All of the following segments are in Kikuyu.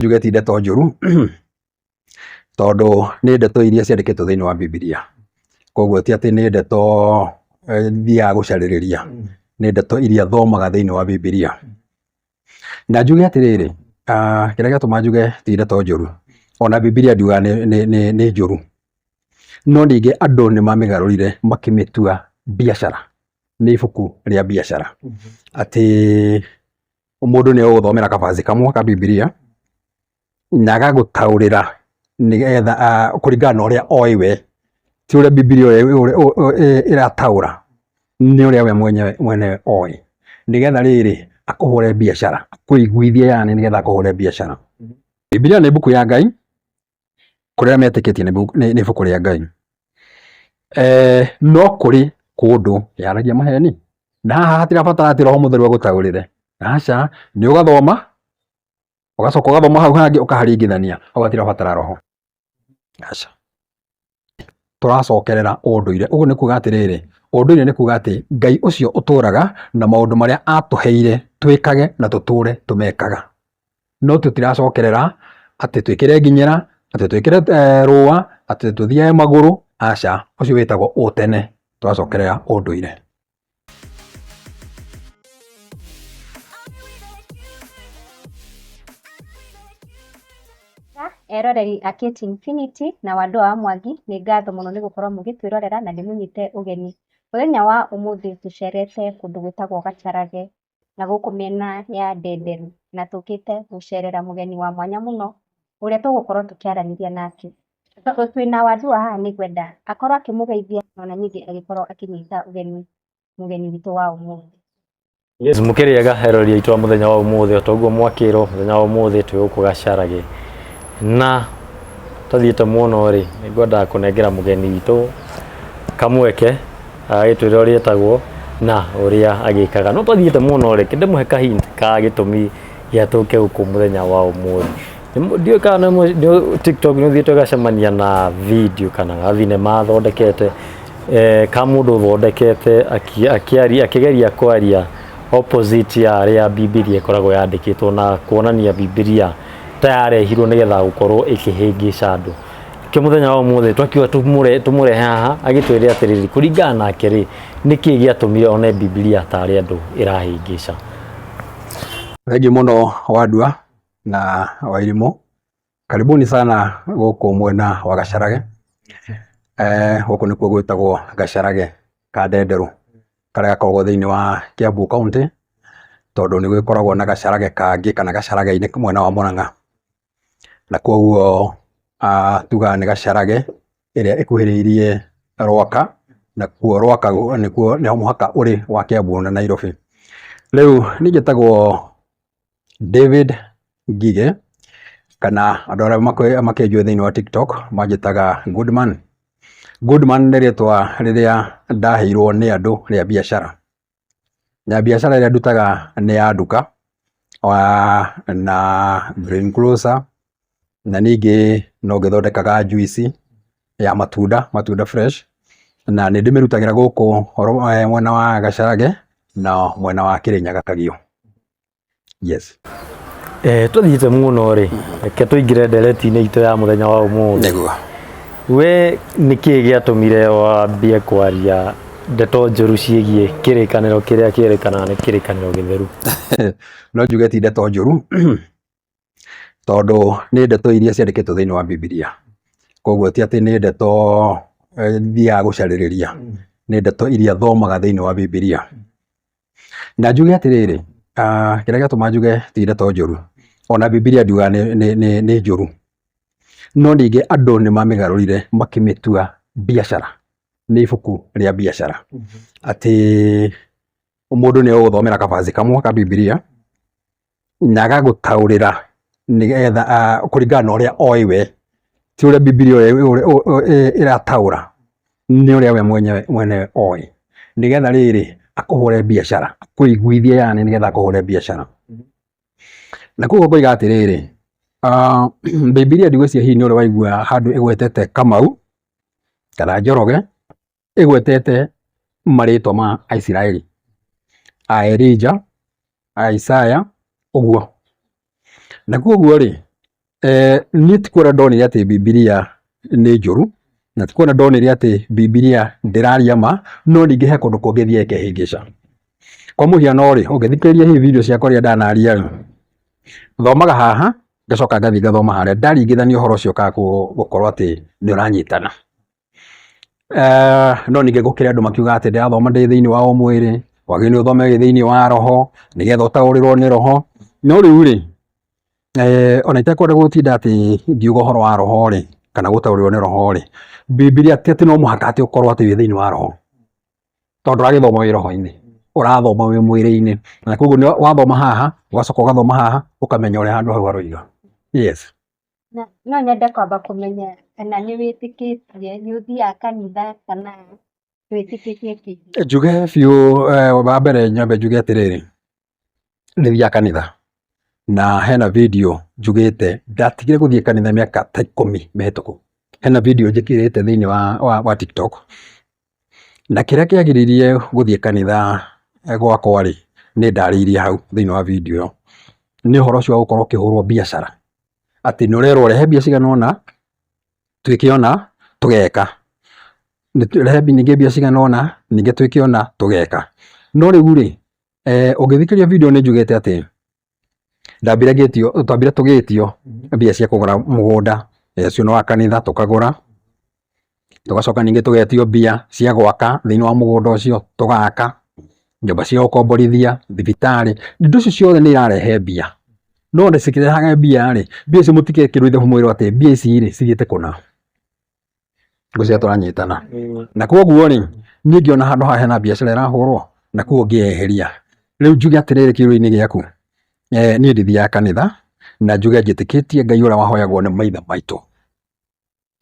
njuge ti ndeto njũru tondũ nĩ ndeto iria ciandĩkĩtwo thĩinĩ wa Bibilia. Koguo ti atĩ nĩ ndeto eh, thiaga gũcarĩrĩria, nĩ ndeto iria thomaga thĩinĩ wa Bibilia. Na njuge atĩrĩrĩ, ah, kĩrĩa gĩatũma njuge ti ndeto njũru, ona Bibilia ndiugaga nĩ- nĩ- nĩ nĩ njũru, no ningĩ andũ nĩ mamĩgarũrire makĩmĩtua biacara, nĩ ibuku rĩa biacara atĩ mũndũ nĩ egũgũthomera kabaci kamwe ka Bibilia na agagũtaũrĩra nĩgetha kũringana na ũrĩa oĩ we, ti ũrĩa Bibilia ĩrataũra, nĩ ũrĩa we mwene oĩ, nĩgetha rĩrĩ akũhũre biacara, akũiguithie yaani nĩgetha akũhũre biacara. Bibilia nĩ mbuku ya Ngai kũrĩa metĩkĩtie nĩ ibuku rĩa Ngai. Eh, no kũrĩ kũndũ yaragia maheni na haha hatirabatara atĩ roho mũtheru agũtaũrĩre aca nĩ ũgathoma ũgacoka ũgathoma hau hangĩ ũkaharingithania hau hatirabatara roho aca tũracokerera ũndũire. Ũguo nĩ kuga atĩrĩrĩ, ũndũire nĩ kuga atĩ Ngai ũcio ũtũraga na maũndũ marĩa atũheire twĩkage na tũtũre tũmekaga. No tũtiracokerera atĩ twĩkĩre nginyĩra, atĩ twĩkĩre eh, rũa, atĩ tũthiage magũrũ, aca, ũcio wĩtagwo ũtene, tũracokerera ũndũire. Eroreri a Kate Infinity na Wandũa wa Mwangi, nĩ ngatho mũno nĩ gũkorwo mũgĩtwĩrorera na nĩ mũnyite ũgeni. Mũthenya wa ũmũthĩ tũcerete kũndũ gwĩtagwo Gacarage. na gũkũ mĩena ya Ndenderu na tũkĩte gũcerera mũgeni wa mwanya mũno ũrĩa tũgũkorwo tũkĩaranĩria nake. Tondũ twĩna Waduwa haha nĩ ngwenda akorwo akĩmũgeithia o na ningĩ agĩkorwo akĩnyita ũgeni mũgeni witũ wa ũmũthĩ. Yes, mũkĩrĩega eroreri aitũ a mũthenya wa ũmũthĩ o ta ũguo mwakĩrwo mũthenya wa ũmũthĩ twĩ gũkũ gacarage na tathiĩte mũno rĩ nĩ ngwendaga kũnengera mũgeni witũ kamweke agagĩtwĩra ũrĩa etagwo na ũrĩa agĩkaga no twathiĩte mũno rĩ kĩndĩ mũhe kahinda ka gĩtũmi gĩa tũke gũkũ mũthenya wa ũmũthĩ ndiũĩ kana nĩ- nĩ- tiktok nĩ ũthiĩte ũgacemania na video kana ga thinema athondekete eh, ka mũndũ ũthondekete aki- akĩaria- akĩgeria kwaria opposite ya arĩa bibilia ĩkoragwo yandĩkĩtwo na kuonania bibilia ta yarehirwo nĩgetha gũkorwo ĩkĩhĩngĩca andũ kä må thenya wa må thä twakiuga tå må rehe haha agä twä rä atä rä rä kå ringana nake rä nä kä gä atå mire one bibilia tarä andå ä rahä ngä ca Wengi muno wandua na wairimũ, karibuni sana gũkũ mwena wa Gacarage. Eh, gũkũ nĩkuo gwĩtagwo Gacarage ka Ndenderũ karĩa gakoragwo thĩinĩ wa Kiambu County, tondũ nĩ gwĩkoragwo na Gacarage kangĩ kana Gacarage-inĩ mwena wa Mũrang'a. na koguo tugaga nĩ gacarage ĩrĩa ĩkuhĩrĩirie Rwaka, nakuo Rwaka nĩkuo nĩ mũhaka ũrĩ wa Kiambu na Nairobi. Rĩu niĩ njĩtagwo David Ngigĩ, kana andũ arĩa makũrũ makĩnjũĩ thĩiniĩ wa Tiktok manjĩtaga Goodman. Goodman nĩ rĩtwa rĩrĩa ndaheirwo nĩ andũ rĩa biacara. Mbiacara ĩrĩa ndutaga nĩ ya nduka, na green grocer, na ningĩ no ngĩthondekaga njuici ya matunda, matunda fresh, na nĩ ndĩmĩrutagĩra gũkũ mwena wa Gacharage na mwena wa Kĩrĩnyaga Kagio. yes Eh, tũthiĩte mũno rĩ reke tũingĩre ndereti-inĩ itũ ya mũthenya wa ũmũthĩ nĩguo we nĩ kĩĩ gĩatũmire wambie kwaria ndeto njũru ciĩgiĩ kĩrĩkanĩro kĩrĩa kĩrĩkanaga nĩ kĩrĩkanĩro gĩtheru no njuge ti ndeto njũru tondũ nĩ ndeto iria ciandĩkĩtwo thĩinĩ wa Bibilia. Koguo ti atĩ nĩ ndeto thiaga gũcarĩrĩria, nĩ ndeto iria thomaga thĩinĩ wa Bibilia. Na njuge atĩrĩrĩ, kĩrĩa gĩatũma njuge ti ndeto njũru, ona Bibilia ndiugaga nĩ, nĩ, nĩ, nĩ njũru, no ningĩ andũ nĩ mamĩgarũrire makĩmĩtua biacara, nĩ ibuku rĩa biacara. Atĩ mũndũ nĩ egũgũthomera kabanjĩ kamwe ka Bibilia, na agagũtaũrĩra nĩgetha ah, kũringana na ũrĩa oĩ we ti ũrĩa bibilia ũrĩa- ũrĩa- ũrĩa- ĩ- ĩrataũra nĩ ũrĩa we mwenyewe mwenyewe oĩ nĩgetha rĩrĩ akũhũre biacara akũiguithie yani nĩgetha akũhũre biacara na koguo ngoiga atĩrĩrĩ ah, bibilia ndigwĩciria hihi nĩ ũrĩa waigua handũ ĩgwetete kamau kana njoroge ĩgwetete marĩtwa ma Aisiraeli, a Elija, a Isaya, ũguo. Na koguo rĩ, eh, niĩ ti kuona ndonire atĩ Bibilia nĩ njũru, na ti kuona ndonire atĩ Bibilia ndĩraria ma, no ningĩ he kũndũ kũngĩ thiaga ĩkehĩngĩca. Kwa mũhiano rĩ, ũngĩthikĩrĩria hihi video ciakwa rĩrĩa ndanaria rĩ, thomaga haha, ngacoka ngathiĩ ngathoma harĩa, ndaringithania ũhoro ũcio ũkaga kũ- gũkorwo atĩ nĩ ũranyitana. Eh, no ningĩ ngũkĩrĩ andũ makiuga atĩ ndĩrathoma ndĩ thĩinĩ wa o mwĩrĩ wagĩ nĩ ũthome wĩ thĩinĩ wa roho nĩgetha ũtaũrĩrwo nĩ roho no rĩu rĩ eh, ona itekwenda gũtinda atĩ ngiuga ũhoro wa roho rĩ kana gũtaũrĩrwo nĩ roho rĩ bibilia ti atĩ no mũhaka atĩ ũkorwo atĩ wĩ thĩinĩ wa roho tondũ ũragĩthoma wĩ roho-inĩ ũrathoma wĩ mwĩrĩ-inĩ na koguo nĩ wathoma haha ũgacoka ũgathoma haha ũkamenya ũrĩa handũ hau haroiga yes No nyende kwamba kũmenya kana nĩ wĩtĩkĩtie, nĩ ũthiaga kanitha kana ndwĩtĩkĩtie kĩhiko? Njuge biũ wa mbere nyambe njuge atĩrĩrĩ, nĩ thiaga kanitha na hena video njugĩte ndatigire gũthiĩ kanitha mĩaka ta ikũmi mĩhĩtũku. Hena video njĩkĩrĩte thĩiniĩ wa wa TikTok. Na kĩrĩa kĩagiririe gũthiĩ kanitha gwakwa rĩ, nĩ ndarĩirie hau thĩiniĩ wa video ĩyo, nĩ ũhoro ũcio wa gũkorwo ũkĩhũrwo biacara, atĩ nĩ ũrerwo rehe mbia cigana ũna, twĩke ũna, tũgeka, rehe ningĩ mbia cigana ũna, ningĩ twĩke ũna, tũgeka. No rĩu rĩ, ũngĩthikĩrĩria video nĩ njugĩte atĩ, Ndambire ngĩtio, twambire tũgĩtio mbia cia kũgũra mũgũnda, ũcio nĩ wa kanitha tũkagũra, tũgacoka ningĩ tũgetio mbia cia gwaka thĩinĩ wa mũgũnda ũcio, tũgaka, nyũmba cia gũkomborithia, thibitarĩ, indo icio ciothe nĩ irarehe mbia. No ona cikĩrehaga mbia rĩ, mbia icio mũtigekĩrwo ithabu mwĩrwo atĩ mbia ici rĩ cithiĩte kũna. Ngwĩciria tũranyitana. Na koguo rĩ, niĩ ngĩona handũ haha hena biacara ĩrahũrwo, na koguo ngĩyeheria. Rĩu njuge atĩrĩrĩ kĩũria-inĩ gĩaku, eeh niĩ ndithiaga kanitha, na njuge njĩtĩkĩtie Ngai ũrĩa wahoyagwo nĩ maithe maitũ.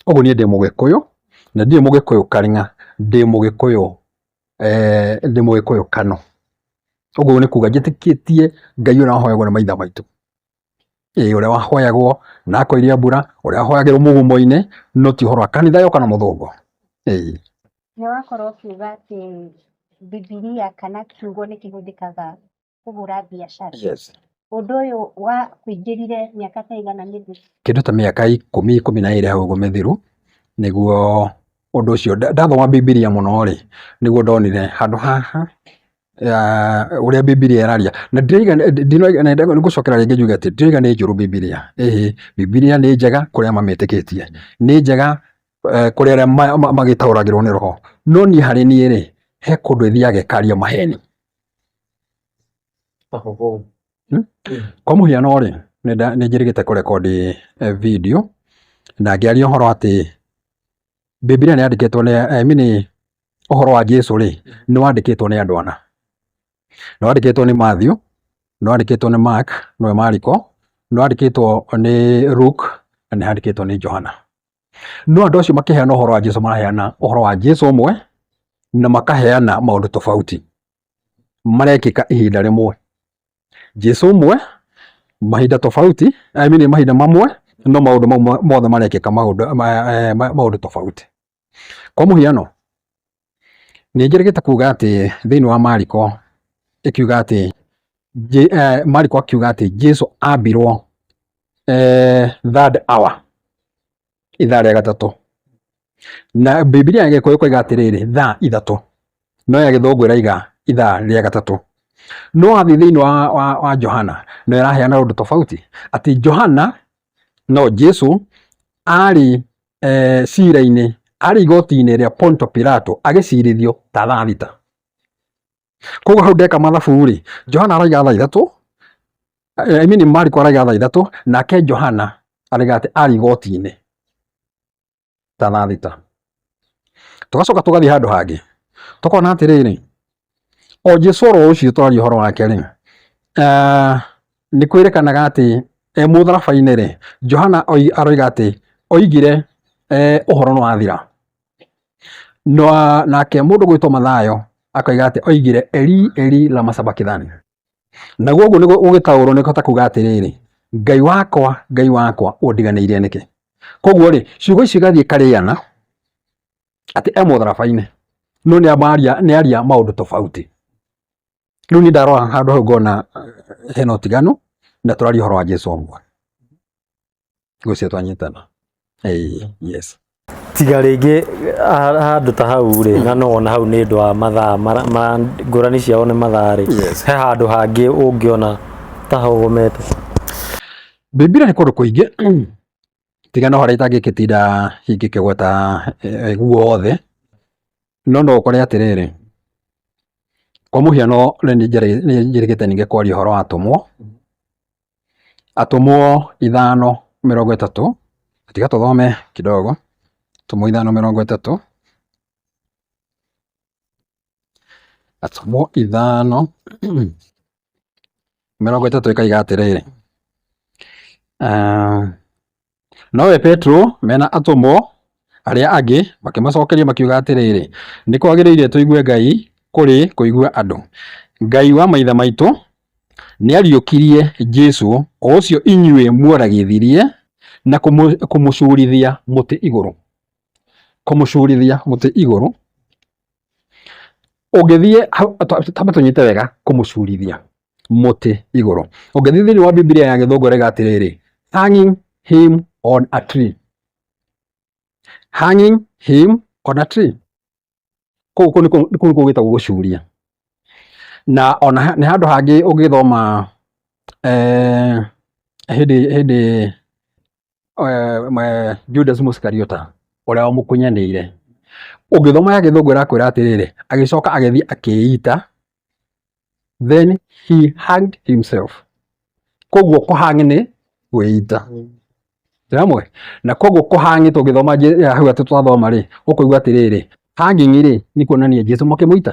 Ũguo niĩ ndĩ mũgĩkũyũ, na ndirĩ mũgĩkũyũ karng'a, ndĩ mũgĩkũyũ eeh ndĩ mũgĩkũyũ Kano. Ũguo nĩ kuga njĩtĩkĩtie Ngai ũrĩa wahoyagwo nĩ maithe maitũ. Ĩĩ ũrĩa wahoyagwo na akoiria mbura, ũrĩa wahoyagĩrwo mũgumo-inĩ, no ti ũhoro wa kanitha yoka na mũthũngũ. Ĩĩ. Nĩ wakorwo ũkiuga atĩ Bibilia kana kiugo nĩ kĩhũthĩkaga kũhũra biacara. Yes. Ũndũ ũyũ wakũingĩrire mĩaka ta ĩigana mĩthiru? Kĩndũ ta mĩaka ikũmi, ikũmi na ĩĩrĩ hau ũguo mĩthiru, nĩguo ũndũ ũcio, ndathoma Bibilia mũno-rĩ, nĩguo ndonire handũ haha ũrĩa Bibilia ĩraria. Na ndiroiga nĩ gũcokera rĩngĩ njuge atĩ ndiroiga nĩ njũru Bibilia, ĩhĩ, Bibilia nĩ njega kũrĩ arĩa mamĩtĩkĩtie, nĩ njega kũrĩ arĩa magĩtaũragĩrwo nĩ roho. No niĩ harĩ niĩ rĩ, he kũndũ ĩthiaga ĩkaria maheni. Kwa mũhiano rĩ, nĩ njĩrĩgĩte kũrekondi video na ngĩaria ũhoro atĩ... Bibilia nĩ yandĩkĩtwo nĩ I mean ũhoro wa Jesu rĩ, nĩ wandĩkĩtwo nĩ andũ ana. Nĩ wandĩkĩtwo nĩ Matthew, nĩ wandĩkĩtwo nĩ Mark nĩwe Mariko, nĩ wandĩkĩtwo nĩ Luke na nĩ handĩkĩtwo nĩ Johana. No andũ acio makĩheana ũhoro wa Jesu maraheana ũhoro wa Jesu ũmwe na makaheana maũndũ tofauti marekĩka ihinda rĩmwe. Jesu ũmwe mahinda tofauti I mean mahinda mamwe no maũndũ mau mothe marekĩka maũndũ eh, maũndũ tofauti kwa mũhiano nĩ njĩrĩgĩte kuga atĩ thĩinĩ wa Mariko ĩkiuga atĩ eh, Mariko akiuga atĩ Jesu ambirwo eh, third hour ithaa rĩa gatatũ na bibilia ya gĩkũyũ koiga atĩrĩrĩ thaa ithatũ no ya gĩthũngũ ĩraiga ithaa rĩa gatatũ no wathiĩ thĩinĩ wa, wa, wa johana no ĩraheana ũndũ tofauti atĩ johana no jesu arĩ eh, cira-inĩ arĩ igoti-inĩ rĩa ponto pilato agĩcirithio ta thaa thita koguo hau ndeka mathabu rĩ Johana araiga thaa ithatũ eh, I mean Mariko araiga thaa ithatũ nake Johana araiga atĩ arĩ igoti-inĩ ta thaa thita tũgacoka tũgathiĩ handũ hangĩ tũkona atĩrĩrĩ o Jesu oro ũcio twaria ũhoro wake rĩ eh, nĩ kwĩrĩkanaga atĩ e mũtharaba-inĩ rĩ Johana aroiga atĩ oigire eh, ũhoro nĩ wathira No nake mũndũ gwĩtwo Mathayo akoiga atĩ oigire eri eri lama sabakithani. Naguo ũguo nĩguo ũgĩtaũrwo nĩ kũhota kuga atĩrĩrĩ, Ngai wakwa, Ngai wakwa, ũndiganĩire nĩkĩ? Koguo rĩ, ciugo icio igathiĩ ikarĩana atĩ e mũtharaba-inĩ no nĩ amaria nĩ aria maũndũ tofauti. Rĩu niĩ ndarora handũ hau ngona hena ũtiganu na tũraria ũhoro wa Jesũ ũmwe. ngũcio twanyitana Ĩĩ, yes tiga rĩngĩ ha- handũ ta hau rĩ na no wona hau nĩ ũndũ wa mathaa mara- ma- ngũrani ciao nĩ mathaa rĩ Yes. he handũ hangĩ ũngĩona ta hogomete Bibilia nĩ kũndũ kũingĩ tiga no harĩa itangĩkĩtinda ingĩkĩgweta eh, guothe no no ũkore atĩrĩrĩ kwa mũhiano rĩu nĩ njĩrĩ- nĩ njĩrĩgĩte ningĩ kwaria ũhoro wa atũmwo Atũmwo ithano mĩrongo ĩtatũ, tiga tũthome kidogo, Atũmwo ithano mĩrongo ĩtatũ, Atũmwo ithano mĩrongo ĩtatũ ĩkoiga atĩrĩrĩ, Nowe Petero mena atũmwo arĩa angĩ makĩmacokeria makiuga atĩrĩrĩ, nĩ kwagĩrĩire tũigue Ngai kũrĩ kũigua andũ. Ngai wa maithe maitũ nĩariũkirie Jesu o ũcio inyuĩ muoragithirie na kũmũcurithia mũtĩ igũrũ. Kũmũcurithia mũtĩ igũrũ, ũngĩthiĩ, tambe tũnyite wega kũmũcurithia. mũtĩ igũrũ. Ũngĩthiĩ thĩinĩ wa Bibilia ya Gĩthũngũ ĩrauga atĩrĩrĩ, hanging him on a tree. Hanging him on a tree. Kũu kũu nĩkuo kũu nĩkuo gwĩtagwo gũcuria. Na ona ha- nĩ handũ hangĩ ũngĩthoma eh, hĩndĩ hĩndĩ Judas Mũsikariota ũrĩa wamũkunyanĩire. Ũngĩthoma ya gĩthũngũ ĩrakwĩra atĩrĩrĩ, agĩcoka agĩthiĩ akĩĩita, then he hanged himself. Koguo kũ hang nĩ kwĩita. Ndĩramũĩ? Na koguo kũ hang tũngĩthoma hau atĩ twathoma rĩ, ũkũigua atĩrĩrĩ, hanging rĩ, nĩ kuonania Jesu makĩmũita.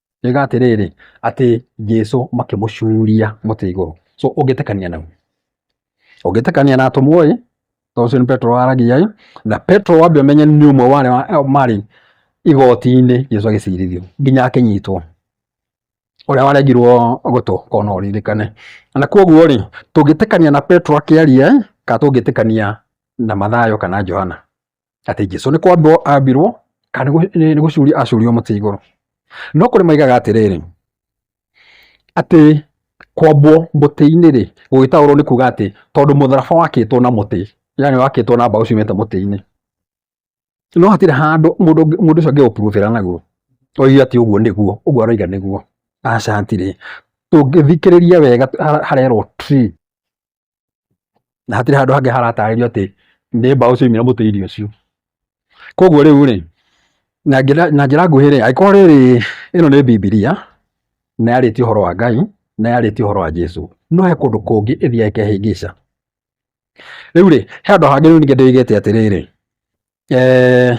Yoiga atĩrĩrĩ, atĩ Jesũ makĩmũcuria mũtĩ igũrũ. So ũngĩtĩkania nau? Ũngĩtĩkania na atũmwo ĩ, tondũ ũcio nĩ Petro waragia ĩ, na Petro wambe ũmenye nĩ ũmwe wa arĩa marĩ igoti-inĩ Jesũ agĩcirithio nginya akĩnyitwo, ũrĩa waregirwo gũtũ korwo no ũririkane. Na koguo rĩ, tũngĩtĩkania na Petro akĩaria ĩ, kana tũngĩtĩkania na Mathayo kana Johana? atĩ Jesu nĩ kwambirwo ambirwo kana nĩ gũcurio acurio mũtĩ igũrũ. No kũrĩ maigaga atĩrĩrĩ, atĩ kwambwo mũtĩ-inĩ rĩ, gũgĩtaũrwo nĩ kuga atĩ tondũ mũtharaba wakĩtwo na mũtĩ, yani wakĩtwo na mbaũ ciumĩte mũtĩ-inĩ, no hatirĩ handũ mũndũ mũndũ ũcio angĩ ũpurutĩra naguo oige atĩ ũguo nĩguo, ũguo aroiga nĩguo, aca hatirĩ. Tũngĩthikĩrĩria wega harerwo tree na hatirĩ handũ hangĩ haratarĩrio atĩ nĩ mbaũ ciaumire mũtĩ irio ũcio koguo rĩu rĩ na njĩra na njĩra nguhĩ rĩ angĩkorwo rĩrĩ ĩno nĩ bibilia na yarĩtie ũhoro wa ngai na yarĩtie ũhoro wa jesu no he kũndũ kũngĩ ĩthiaga ĩkehĩngĩca rĩu rĩ he handũ hangĩ rĩu ningĩ ndĩigĩte atĩrĩrĩ eh,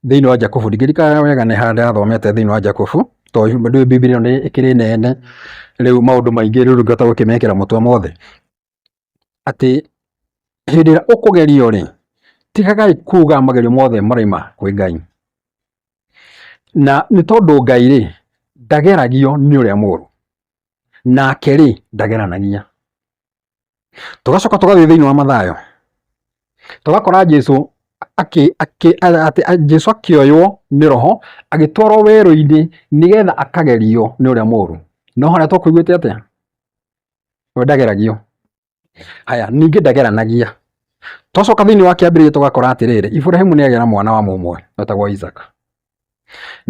thĩinĩ wa Jakobu ndirikana wega nĩ handũ athomete thĩinĩ wa Jakobu tondũ Bibilia nĩ ĩkĩrĩ nene rĩu maũndũ maingĩ rĩu ngĩhota gũkĩmekĩra mũtwe mothe atĩ hĩndĩ ĩrĩa ũkũgerio rĩ tigagai kuga magerio mothe maraima kwĩ Ngai na nĩ tondũ Ngai rĩ ndageragio nĩ ũrĩa mũru nake rĩ ndageranagia Tũgacoka tũgathiĩ thĩinĩ wa Mathayo, tũgakora Jesu akĩ akĩ atĩ a- Jesu akĩoywo nĩ roho agĩtwarwo werũ-inĩ nĩgetha akagerio nĩ ũrĩa mũũru. No harĩa tũkũiguĩte atĩa? We ndageragio. Haya, ningĩ ndageranagia. Twacoka thĩinĩ wa kĩambĩrĩria tũgakora atĩrĩrĩ, Iburahĩmu nĩagĩa na mwana wa mũmwe wetagwo Isaka.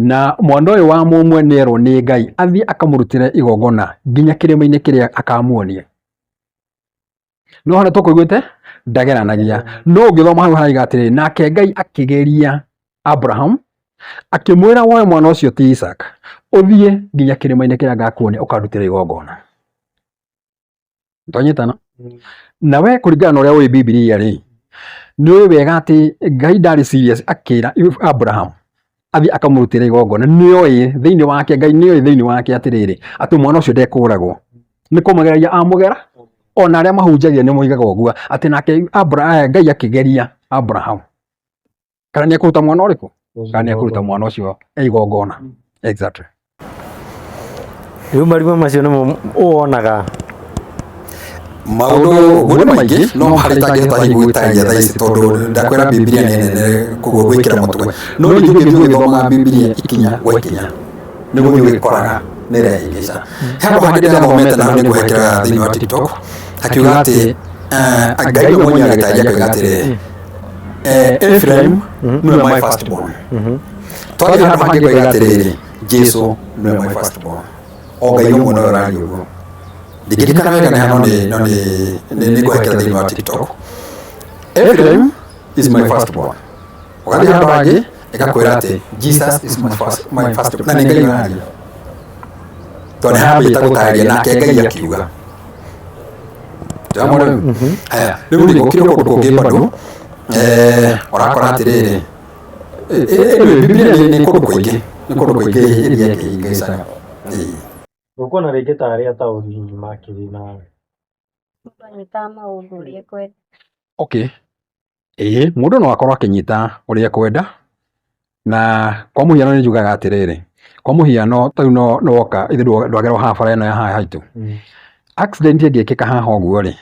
Na mwana ũyũ wa mũmwe nĩerwo nĩ Ngai athiĩ akamũrutĩre igongona nginya kĩrĩma-inĩ kĩrĩa akamuonia. No hana tũkũiguĩte ndageranagia. No ũngĩthoma hau haraiga atĩrĩ, nake Ngai akĩgeria Abraham akĩmwĩra woe mwana ũcio ti Isaac ũthiĩ nginya kĩrĩma-inĩ kĩrĩa ngakuonia ũkandutĩre igongona. twanyitana Mm. na we kũringana na ũrĩa ũĩ bibilia rĩ nĩ ũĩ wega atĩ ngai ndarĩ serious akĩra abraham athiĩ akamũrutĩra igongona nĩ oĩ thĩinĩ wake ngai nĩ oĩ thĩinĩ wake atĩrĩrĩ atĩ mwana ũcio ndekũragwo nĩ kũmũgeragia amũgera ona arĩa mahunjagia nĩ moigaga ũguo atĩ nake Abra- eh, ngai akĩgeria abraham kana nä ekåruta mwana å rä kå kana nä ekåruta mwana å cio e igongona exactly rĩu marima macio nĩmo wonaga maundu nguri maingi no hari tangihota hihi gwitaria thaa ici tondu ndakwira bibilia ni nene koguo gwikira mutwe no ringi ngithiĩ ngĩthomaga bibilia ikinya gwa ikinya nĩ gũthiĩ ũgĩkoraga nĩ rehingĩca he andũ hangĩ ndĩra thomete na nĩ ngũhekera thĩinĩ wa tiktok akiuga atĩ eh, ngai we mwenye agĩtaria akiuga atĩrĩ efuraimu nĩwe my first born twathi handũ hangĩ ngoiga atĩrĩrĩ jesu nĩwe my first born o ngai ũmwe nowe ũraria ũguo ndingĩririkana wega nĩ hano nĩ- no nĩ- nĩ- nĩ ngũhekera thĩinĩ wa tiktok efuraimu is my first born ũgathiĩ handũ hangĩ ĩgakwĩra atĩ jesus is my first, my first na nĩ ngai ũraria tondũ nĩhambĩte gũtarĩria nake ngai akiuga Nĩwona mũndũ ũyũ? Haya, rĩu nĩ gũkire kũndũ kũngĩ bado eh, ũrakora atĩrĩrĩ ĩ- ĩ- ĩ- bibilia nĩ nĩ kũndũ kũingĩ nĩ kũndũ kũingĩ iria kĩhingĩcaga Nguona rĩngĩ ta arĩa taũni makĩrĩ na Nyumba ni kama uhudhurie kweli. okay Ĩĩ mũndũ no akorwo akĩnyita ũrĩa ekwenda, na kwa mũhiano nĩ njugaga atĩrĩrĩ, kwa mũhiano ta rĩu nĩ woka ithuĩ ndwagerwo haha bara ĩno ya haha haitũ, accident ĩngĩkĩka haha ũguo rĩ,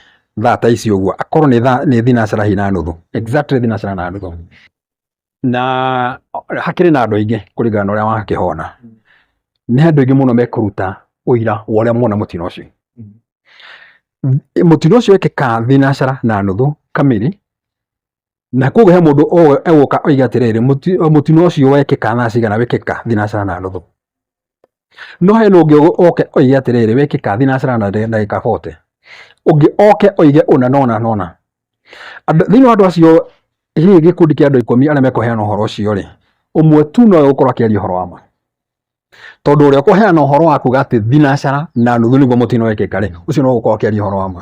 thaa ta ici ũguo, akorwo nĩ thaa, nĩ thinacara hihi na nuthu, exactly thinacara na nuthu. na hakĩrĩ na andũ aingĩ kũringana na ũrĩa wakĩhona nĩ andũ aingĩ mũno mekũruta ũira wa ũrĩa mona mũtino ũcio mũtino ũcio ekĩka thinacara na nuthu kamiri na koguo he mũndũ egũka oiga atĩrĩrĩ mũtino ũcio wekĩka thaa cigana wekĩka thinacara na nuthu no hena ũngĩ oke oige atĩrĩrĩ wĩkĩka thinacĩra na ndagĩka 40 ũngĩ oke oige ũna nona nona thĩinĩ wa andũ acio hihi gĩkundi kĩa andũ ikũmi arĩa mekũheana ũhoro ũcio rĩ ũmwe tu nowe gũkorwo akĩaria ũhoro wa ma tondũ ũrĩa ũkũheana ũhoro wa kuga atĩ thinacara na nuthu nĩguo mũtino wĩkĩka rĩ ũcio no gũkorwo akĩaria ũhoro wa ma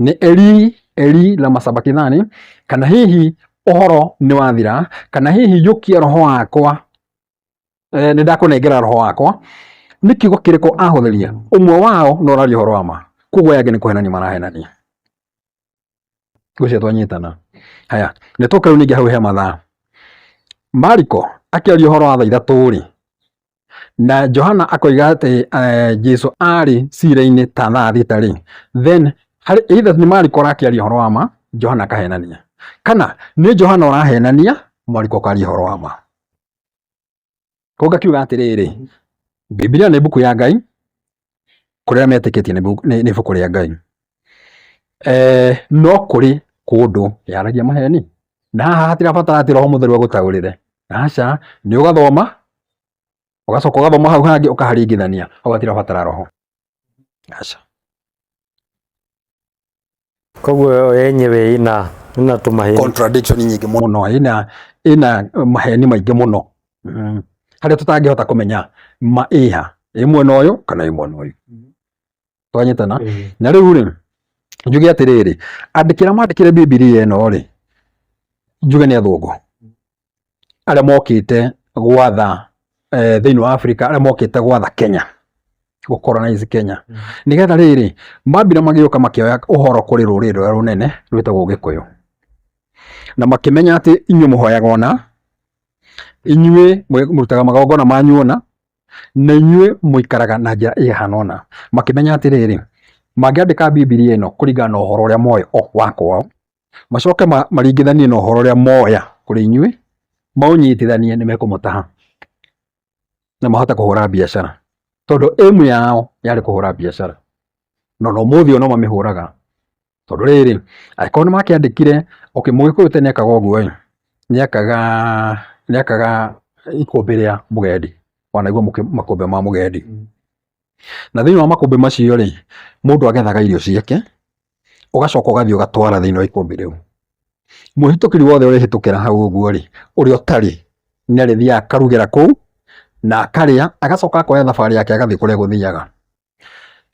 nĩ eri eri la masabakithani kana hihi ũhoro nĩ wathira kana hihi yũkia roho wakwa eh, nĩ ndakũnengera roho wakwa nĩ kiugo kĩrĩkũ ahũthĩria ũmwe wao na ũraria ũhoro wa ma koguo aya angĩ nĩ kũhenania marahenania ngwĩciria twanyitana haya nĩ tũka rĩu ningĩ hau he mathaa mariko akĩaria ũhoro wa thaa ithatũ rĩ na Johana akoiga atĩ eh, Jesu arĩ cira-inĩ ta thaa thita rĩ then either nĩ Mariko arakĩaria ũhoro wa ma Johana akahenania kana nĩ Johana ũrahenania Mariko akaria ũhoro wa ma koguo ngakiuga atĩrĩrĩ Biblia nĩ mbuku ya Ngai kũrĩa metĩkĩtie nĩ ibuku rĩa Ngai. Eh, no kũrĩ kũndũ yaragia maheni na haha hatirabatara atĩ roho mũtheru agũtaũrĩre aca nĩ ũgathoma ũgacoka ũgathoma hau hangĩ ũkaharingithania hau hatirabatara roho aca koguo yo yenyewe ina ina tumahĩni contradiction nyingĩ mũno mũno ina ina maheni maingĩ mũno mm. harĩa tũtangĩhota kũmenya ma ĩha ĩ mwena ũyũ kana ĩ mwena ũyũ twanyitana Eh, na rĩu rĩ njuge atĩrĩrĩ andĩkĩra mandĩkĩre bibilia ĩno rĩ njuge nĩ athũngũ arĩa mokĩte gwatha eh, thĩinĩ wa Afrika arĩa mokĩte gwatha Kenya gũkoronize Kenya nĩgetha rĩrĩ mambire magĩũka makĩoya ũhoro kũrĩ rũrĩrĩ rũrĩa rũnene rwĩtagwo Gĩkũyũ na makĩmenya atĩ inyuĩ mũhoyaga ona inyuĩ mwe- mũrutaga magongona manyu ona na inyuĩ mũikaraga na njĩra ĩhana ũna makĩmenya atĩrĩrĩ mangĩandĩka bibilia ĩno kũringana na ũhoro ũrĩa moĩ o wa kwao macoke maringithanie na ũhoro ũrĩa moya kũrĩ inyuĩ, maũnyitithanie nĩ mekũmũtaha na mahote kũhũra biacara, tondũ aim yao yarĩ kũhũra biacara, na ona ũmũthĩ no mamĩhũraga, tondũ rĩrĩ, angĩkorwo nĩ makĩandĩkire, okay mũgĩkũyũ tene ekaga ũguo ĩ, nĩ ekaga, nĩ ekaga ikũmbĩ rĩa mũgendi, wanĩrĩire makũmbĩ ma mũgendi. Na thĩinĩ wa makũmbĩ macio rĩ, mũndũ agethaga irio ciake, ũgacoka ũgathiĩ ũgatwara thĩinĩ wa ikũmbĩ rĩu. Mũhĩtũkĩri wothe ũrĩhĩtũkĩra hau ũguo rĩ, ũrĩa ũtarĩ nĩ arĩthiaga akarugĩra kũu na akarĩa, agacoka akoya thabarĩ yake agathiĩ kũrĩa egũthiaga.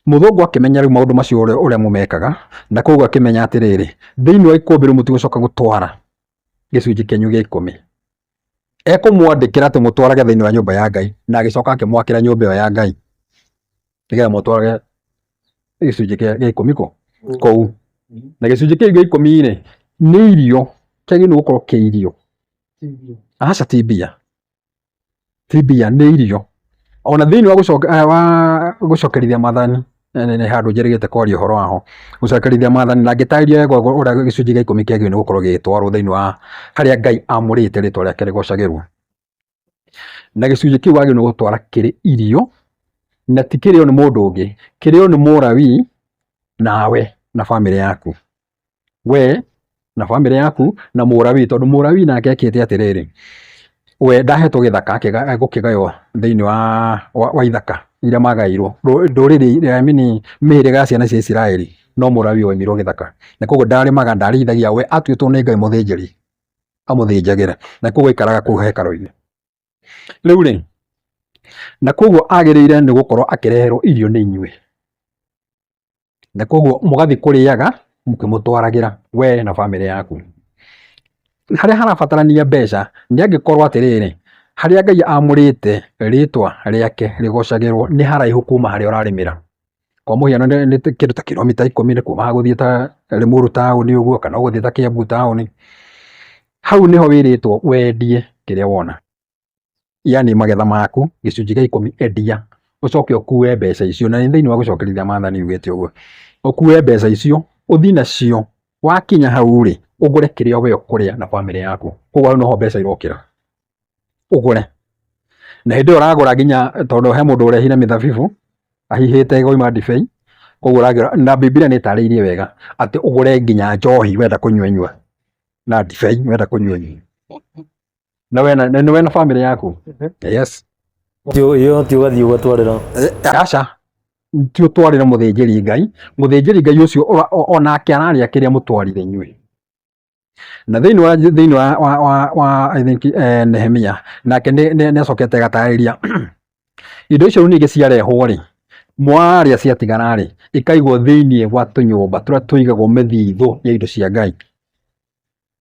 Mũthũngũ akĩmenya rĩu maũndũ macio ũrĩa ũrĩa mũmekaga, na kũguo akĩmenya atĩrĩrĩ, thĩinĩ wa ikũmbĩ rĩu mũtigũcoka gũtwara gĩcunjĩ kĩanyu gĩa ikũmi ekũmwandĩkĩra atĩ mũtwarage thĩinĩ wa nyũmba ya Ngai na agĩcoka akĩmwakĩra nyũmba ĩyo ya Ngai nĩgetha mũtwarage gĩcunjĩ gĩa ikũmi kũ kũu na gĩcunjĩ kĩu gĩa ikũmi rĩ nĩ irio kĩagĩrĩirwo gũkorwo kĩ irio aca ti mbia ti mbia nĩ irio ona thĩinĩ wa eh, gũcokerithia mathani eh, nĩ handũ njerĩgĩte kwaria ũhoro waho gũcokerithia mathani na ngĩtarĩria wega ũrĩa gĩcunjĩ gĩa ikũmi kĩagĩrĩirwo nĩ gũkorwo gĩgĩtwarwo thĩinĩ wa harĩa Ngai amũrĩte rĩtwa rĩake rĩgocagĩrwo na gĩcunjĩ kĩu wagĩrĩirwo nĩ gũtwara kĩrĩ irio na ti kĩrĩo nĩ mũndũ ũngĩ kĩrĩo nĩ mũrawi nawe na bamĩrĩ yaku we na bamĩrĩ yaku na mũrawi tondũ mũrawi nake ekĩte atĩrĩrĩ we ndahetwo gĩthaka gũkĩgaywo thĩinĩ wa, wa, wa ithaka iria magairwo ndũrĩrĩ eh, mini mĩhĩrĩga ya ciana cia Isiraeli no mũrawi waimirwo gĩthaka na koguo ndarĩmaga ndarĩithagia we atuĩtwo nĩ Ngai mũthĩnjĩri amũthĩnjagĩre na koguo aikaraga kũu hekarũ-inĩ rĩu rĩ na koguo agĩrĩire nĩ gũkorwo akĩreherwo irio nĩ inyuĩ na koguo mũgathiĩ kũrĩaga mũkĩmũtwaragĩra we na bamĩrĩ yaku. Harĩa harabatarania mbeca nĩ angĩkorwo atĩrĩrĩ, harĩa Ngai amũrĩte rĩtwa rĩake rĩgocagĩrwo nĩ haraihu kuma harĩa ũrarĩmĩra. Kwa mũhiano nĩ kĩndũ ta kiromita ikũmi nĩ kuma haha gũthiĩ ta Limuru taũni ũguo kana ũgũthiĩ ta Kiambu taũni, hau nĩho wĩrĩtwo wendie kĩrĩa wona. yani magetha maku gĩcunjĩ gĩa ikũmi endia ũcoke ũkue mbeca icio na nĩ thĩinĩ wa gũcokerithia maathani ugĩte ũguo ũkue mbeca icio ũthiĩ nacio wakinya hau rĩ ũgũre kĩrĩa we ũkũrĩa na bamĩrĩ yaku koguo noho mbeca irokĩra ũgũre na hĩndĩ ĩyo ũragũra nginya tondũ he mũndũ ũrehire mĩthabibu ahihĩte goima ndibei koguo ũragũra na Biblia nĩ ĩtarĩirie wega atĩ ũgũre nginya njohi wenda kũnyua nyua na ndibei wenda kũnyua nyua na we na nĩ we na family yaku yes iyo ti ugathii ugatwarira aca ti utwarire muthinjiri ngai muthinjiri ngai ucio ora- o- onake araria kiria mutwarire inyuĩ na thĩinĩ wa thĩinĩ wa wa wa, wa I think eh, Nehemia nake nĩ nĩ- nĩ acokete agatarĩria indo icio rĩu ningĩ ciarehwo rĩ mwarĩa ciatigara rĩ ikaigwo thĩinĩ wa tũnyũmba tũrĩa tũigagwo mĩthithũ ya indo cia ngai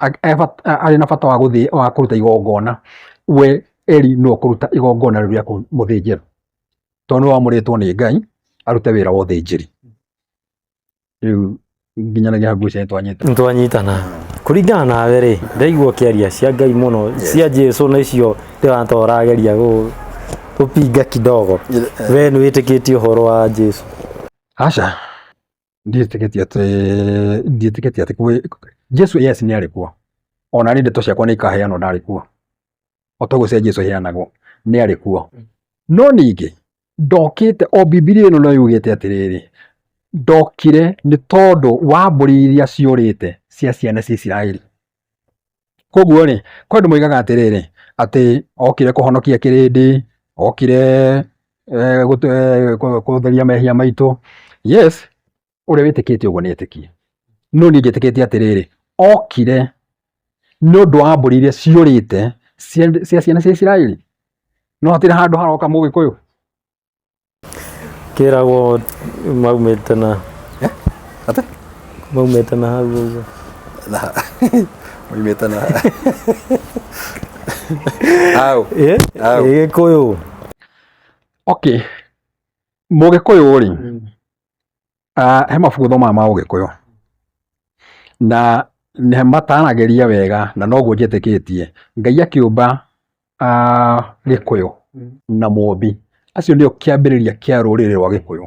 arĩ na bata wa gũthĩ wa kũruta igongona we Eli no kũruta igongona rĩu rĩa mũthĩnjĩro tondũ nĩ wamũrĩtwo nĩ Ngai arute wĩra wa ũthĩnjĩri rĩu nginyanagia hakuhĩ cia twanyita twanyitana kuringana nawe rĩ ndaigua kiaria cia Ngai muno cia Jesu na icio ndĩratora ageria gũpinga kidogo we nĩ wĩtĩkĩtie ũhoro wa Jesu aca ndiĩtĩkĩtie atĩ ndiĩtĩkĩtie atĩ kwĩ Jesu yes nĩ arĩ kuo ona rĩ ndeto ciakwa nĩ ikaheanwo ndarĩ kuo o toguo cia Jesu iheanagwo nĩ arĩ kuo no ningĩ ndokĩte o Bibilia ĩno no yugĩte atĩrĩrĩ ndokire nĩ tondũ wa mbũri iria ciũrĩte cia ciana cia Isiraeli Koguo rĩ, kwĩ andũ moigaga atĩrĩrĩ, atĩ okire kũhonokia kĩrĩndĩ, okire gũtheria mehia maitũ. Yes, ũrĩa wĩtĩkĩtie ũguo nĩ etĩkia, no niĩ njĩtĩkĩtie atĩrĩrĩ, okire nĩ ũndũ wa mbũri iria ciũrĩte cia ciana cia Isiraeli. Nĩ wona hatirĩ handũ haroka mũgĩkũyũ? Kĩragwo maumĩte na Atĩ? maumĩte na hau ũguo. Na. Moimĩte na. Au. Ĩ, Au. ĩ, Gĩkũyũ. Okay. Mũgĩkũyũ rĩ, ah, he mabuku thomaga ma ũgĩkũyũ na nĩ mataranagĩria wega na noguo njĩtĩkĩtie ngai akĩũmba ah, gĩkũyũ na mũmbi acio nĩo kĩambĩrĩria kĩa rũrĩrĩ rwa gĩkũyũ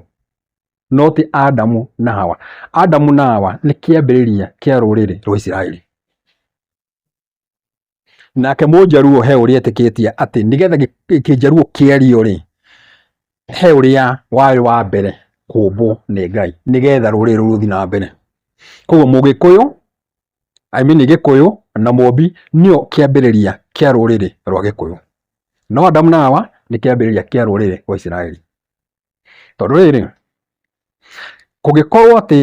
no ti adamu na hawa adamu na hawa nĩ kĩambĩrĩria kĩa rũrĩrĩ rwa isiraeli Nake Mũnjaruo he ũrĩa etĩkĩtie atĩ nĩgetha Kĩnjaruo kĩario rĩ, he ũrĩa warĩ wa mbere kũmbwo nĩ Ngai nĩgetha rũrĩrĩ rũu rũthiĩ na mbere. Koguo Mũgĩkũyũ, I mean Gĩkũyũ na Mũmbi nĩo kĩambĩrĩria kĩa rũrĩrĩ rwa Gĩkũyũ. No Adamu na Hawa nĩ kĩambĩrĩria kĩa rũrĩrĩ rwa Isiraeli. Tondũ rĩrĩ, kũngĩkorwo atĩ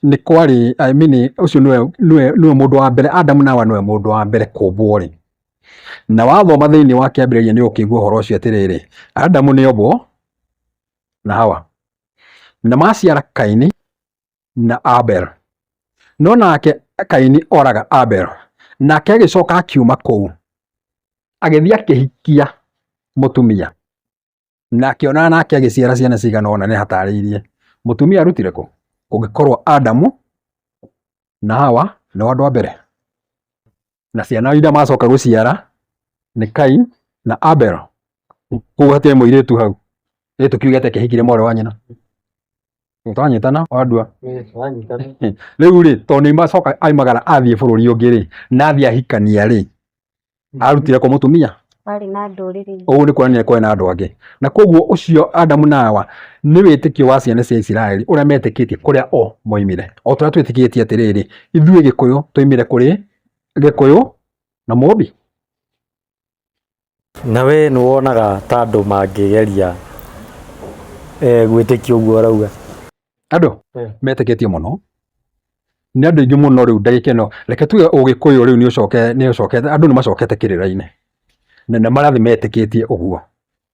nĩ kwarĩ, I mean ũcio nĩwe, nĩwe, nĩwe mũndũ wa mbere, Adamu na Hawa nĩwe mũndũ wa mbere kũmbwo rĩ, na wathoma thĩiniĩ wa kĩambĩrĩria nĩ ũkũigua ũhoro ũcio atĩrĩrĩ, Adamu nĩ ombwo na Hawa, na maciara Kaini na Abel. No nake Kaini oraga Abel, nake agĩcoka akiuma kũu, agĩthiĩ akĩhikia mũtumia. na akĩona nake agĩciara ciana cigana ũna nĩ hatarĩirie mũtumia arutire kũ kũngĩkorwo Adamu na Hawa nĩ andũ a mbere na ciana iria macoka gũciara nĩ Kain na Abel koguo hatirĩ mũirĩtu hau ĩ tũkiuge atĩ kĩhikire mwarĩ wa nyina tũranyitana andua rĩu rĩ tondũ nĩ macoka aimagara athiĩ bũrũri ũngĩ rĩ na athiĩ ahikania rĩ arutire kwa mũtumia arĩ na ndũrĩrĩ ũguo nĩ kuonania kwarĩ na andũ angĩ na koguo ũcio adamu na hawa nĩ wĩtĩkio wa ciana cia isiraeli ũrĩa metĩkĩtie kũrĩa o moimire o tũrĩa twĩtĩkĩtie atĩrĩrĩ ithuĩ gĩkũyũ twoimire kũrĩ gĩkũyũ na mũmbi na we nĩ wonaga ta andũ mangĩgeria eh, gwĩtĩkia ũguo arauga andũ Eh. metĩkĩtie mũno nĩ andũ aingĩ mũno rĩu ndagĩka ĩno reke tuge ũgĩkũyũ rĩu nĩ ũcoke nĩ ũcokete andũ nĩ macokete kĩrĩra-inĩ na nĩ marathiĩ metĩkĩtie ũguo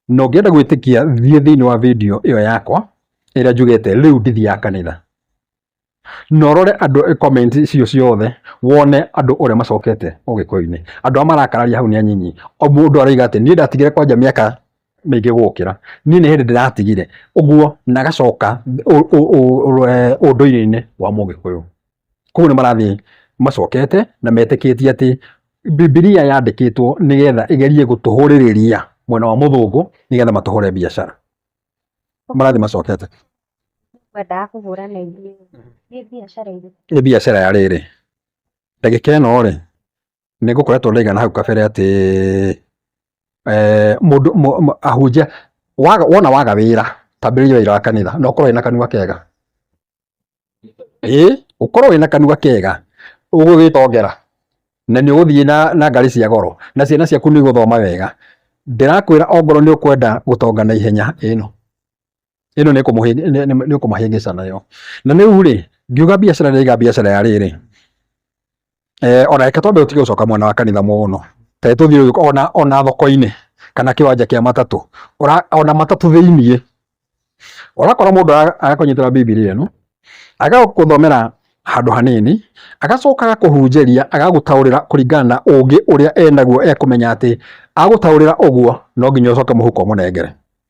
na ũngĩenda gwĩtĩkia thiĩ thĩinĩ wa video ĩyo yakwa ĩrĩa njugĩte rĩu ndithiaga kanitha na ũrore andũ comment cio ciothe wone andũ ũrĩa macokete ũgĩkũyũ-inĩ andũ arĩa marakararia hau nĩ anyinyi o mũndũ aroiga atĩ niĩ ndatigire kwanja mĩaka maingĩ gũkĩra niĩ nĩ hĩndĩ ndĩratigire ũguo na gacoka ũndũire-inĩ wa mũgĩkũyũ koguo nĩ marathiĩ macokete na metĩkĩtie atĩ Bibilia yandĩkĩtwo nĩgetha ĩgerie gũtũhũrĩrĩria mwena wa mũthũngũ nĩgetha matũhũre biacara marathiĩ macokete kwendaga kũhũra na ithuĩ nĩ biacara irĩkũ nĩ biacara ya rĩrĩ ndagĩka ĩno rĩ nĩ ngũkoretwo ndaigana hau kabere atĩ eh, mũndũ ahunjia wona waga wĩra tambĩrĩria wĩra wa kanitha na ũkorwo wĩna kanua kega ĩĩ ũkorwo wĩna kanua kega ũgũgĩtongera na nĩ ũgũthiĩ na, na ngari cia goro na ciana ciaku nĩ igũthoma wega ndĩrakwĩra ongorwo nĩ ũkwenda gũtonga na ihenya ĩno ĩno nĩ kũmũhĩ- nĩ- nĩ- nĩ kũmũhĩngĩca nayo na rĩu rĩ ngiuga biacara ndaiga biacara ya rĩrĩ eh, ona reke twambe ũtige gũcoka mwena wa kanitha mũno kaĩ tũthiĩ ũguo, ona ona thoko-inĩ kana kĩwanja kĩa matatũ Ũra- ona matatũ thĩiniĩ ũrakora mũndũ ara- arakũnyitĩra bibilia ĩno agagũthomera handũ hanini agacoka agakũhunjĩria agagũtaũrĩra kũringana na ũngĩ ũrĩa enaguo ekũmenya atĩ agũtaũrĩra ũguo no nginya ũcoke mũhuko mũnengere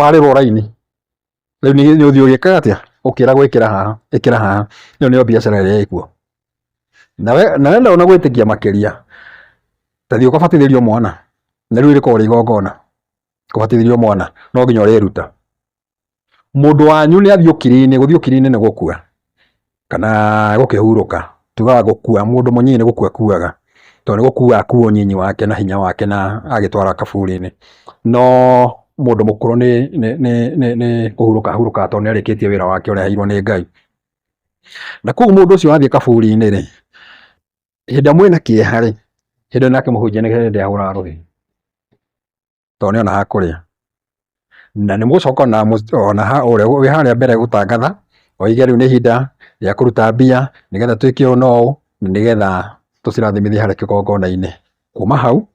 warĩrwo raini rĩu nĩ ũthiĩ ũgĩkaga atĩa ũkĩragwo ĩkĩra haha ĩkĩra haha ĩyo nĩyo biacara ĩrĩa ĩkuo na wenda ona gwĩtĩkia makĩria ta thiĩ ũkabatithĩrio mwana na rĩu rĩkoragwo rĩ igongona kũbatithĩrio mwana no nginya ũrĩruta mũndũ wanyu nĩ athiĩ ũkiri-inĩ gũthiĩ ũkiri-inĩ nĩ gũkua kana gũkĩhurũka, tugaga gũkua, mũndũ mũnyinyi nĩ gũkua akuaga, tondũ nĩ gũkua akuaga ũnyinyi wake na hinya wake na agagĩtwara kaburi-inĩ, no mũndũ mũkũrũ nĩ nĩ nĩ nĩ nĩ kũhurũka ahurũkaga tondũ nĩ arĩkĩtie wĩra wake ũrĩa aheirwo nĩ Ngai. Na kũguo mũndũ ũcio athiĩ kaburi-inĩ rĩ, hĩndĩ ĩrĩa mwĩna kĩeha rĩ, hĩndĩ ĩyo nake mũhunjia nĩ hĩndĩ ahũraga rũhĩ. tondũ nĩ ona ha kũrĩa na nĩ mũgũcoka ona mũc- ona ha ũrĩa wĩ harĩa mbere gũtangatha oige rĩu nĩ ihinda rĩa kũruta mbia nĩgetha twĩke ũũ na ũũ nĩgetha tũcirathimithie harĩa kĩgongona-inĩ kuma hau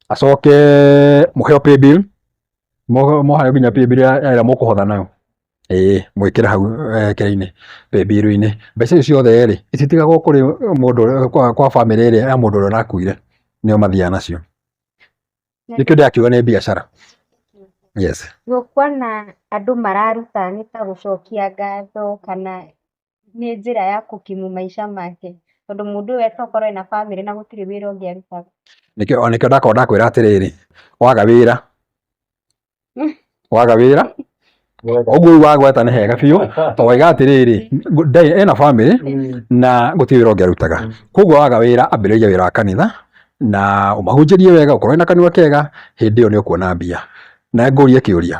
acoke mũheo pay bill Mo- moheo nginya pay bill ya ya ĩrĩa mũkũhotha nayo ĩĩ mwĩkĩre hau eh, kĩrĩa-inĩ pay bill-inĩ mbeca icio ciothe rĩ ititigagwo kũrĩ mũndũ ũrĩa- kwa kwa bamĩrĩ ĩrĩa ya mũndũ ũrĩa ũrakuire nĩo mathiaga nacio Nĩkĩo ndĩrakiuga nĩ biacara. Yes. Kuona andũ mararuta nĩ ta gũcokia ngatho kana nĩ njĩra ya kũkimu maica make. Tondũ mũndũ ũyũ to korwo ena bamĩrĩ na gũtirĩ wĩra ũngĩ arutaga. Nĩkĩo, o nĩkĩo ndakoragwo ndakwĩra atĩrĩrĩ, waga wĩra waga wĩra ũguo rĩu wagweta nĩ hega biũ tondũ waiga atĩrĩrĩ ngũ- ndai- ena bamĩrĩ na gũtirĩ wĩra ũngĩ arutaga koguo waga wĩra ambĩrĩria wĩra wa kanitha na ũmahunjĩrie wega ũkorwo na kanua kega hĩndĩ ĩyo nĩ ũkuona mbia na ngũrie kĩũria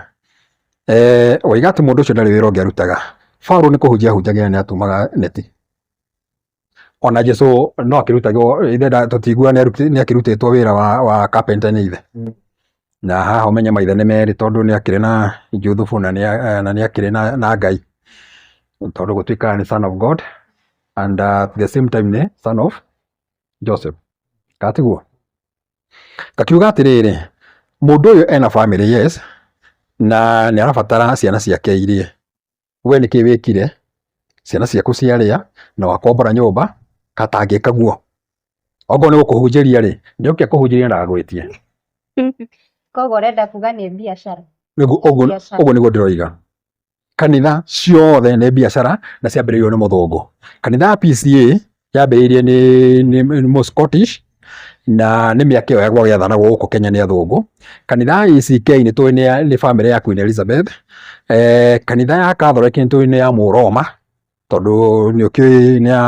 eh, waiga atĩ mũndũ ũcio ndarĩ wĩra ũngĩ arutaga Paulo nĩ kũhunjia ahunjagĩra nĩ atumaga neti ona jesu no akĩrutagwo ithe nda- tũtinguga nĩ aruti- nĩ akĩrutĩtwo wĩra wa, wa carpenter nĩ ithe Mm. na haha ũmenye maithe nĩ merĩ tondũ nĩ akĩrĩ na juthubu na nĩ a- na nĩ akĩrĩ na, na ngai tondũ gũtuĩkaga nĩ son of god and uh, at the same time nĩ son of joseph katiguo kakiuga atĩrĩrĩ mũndũ ũyũ ena family yes na nĩ arabatara ciana ciake irie we nĩkĩ wĩkire, ciana ciaku ciarĩa na wakombora nyũmba, gatangĩka guo. Okorwo nĩ gũkũhunjĩria rĩ, njoke akũhunjĩrie na agwĩtie. Koguo ũrenda kuga nĩ biacara? Nĩguo ũguo Biacara. ũguo nĩguo ndĩroiga. Kanitha ciothe nĩ biacara na ciambĩrĩirio nĩ mũthũngũ. Kanitha ya PCA Yambĩrĩirie nĩ, nĩ, nĩ Mũscottish na nĩ mĩaka ĩyo yagwa gĩathanagwo gũkũ Kenya nĩ athũngũ. Kanitha ya ACK nĩ tũĩ nĩ ya- nĩ bamĩrĩ ya Queen Elizabeth. Eh, kanitha ya Catholic nĩ tũĩ nĩ ya Mũroma tondũ nĩ ũkĩũĩ nĩ ya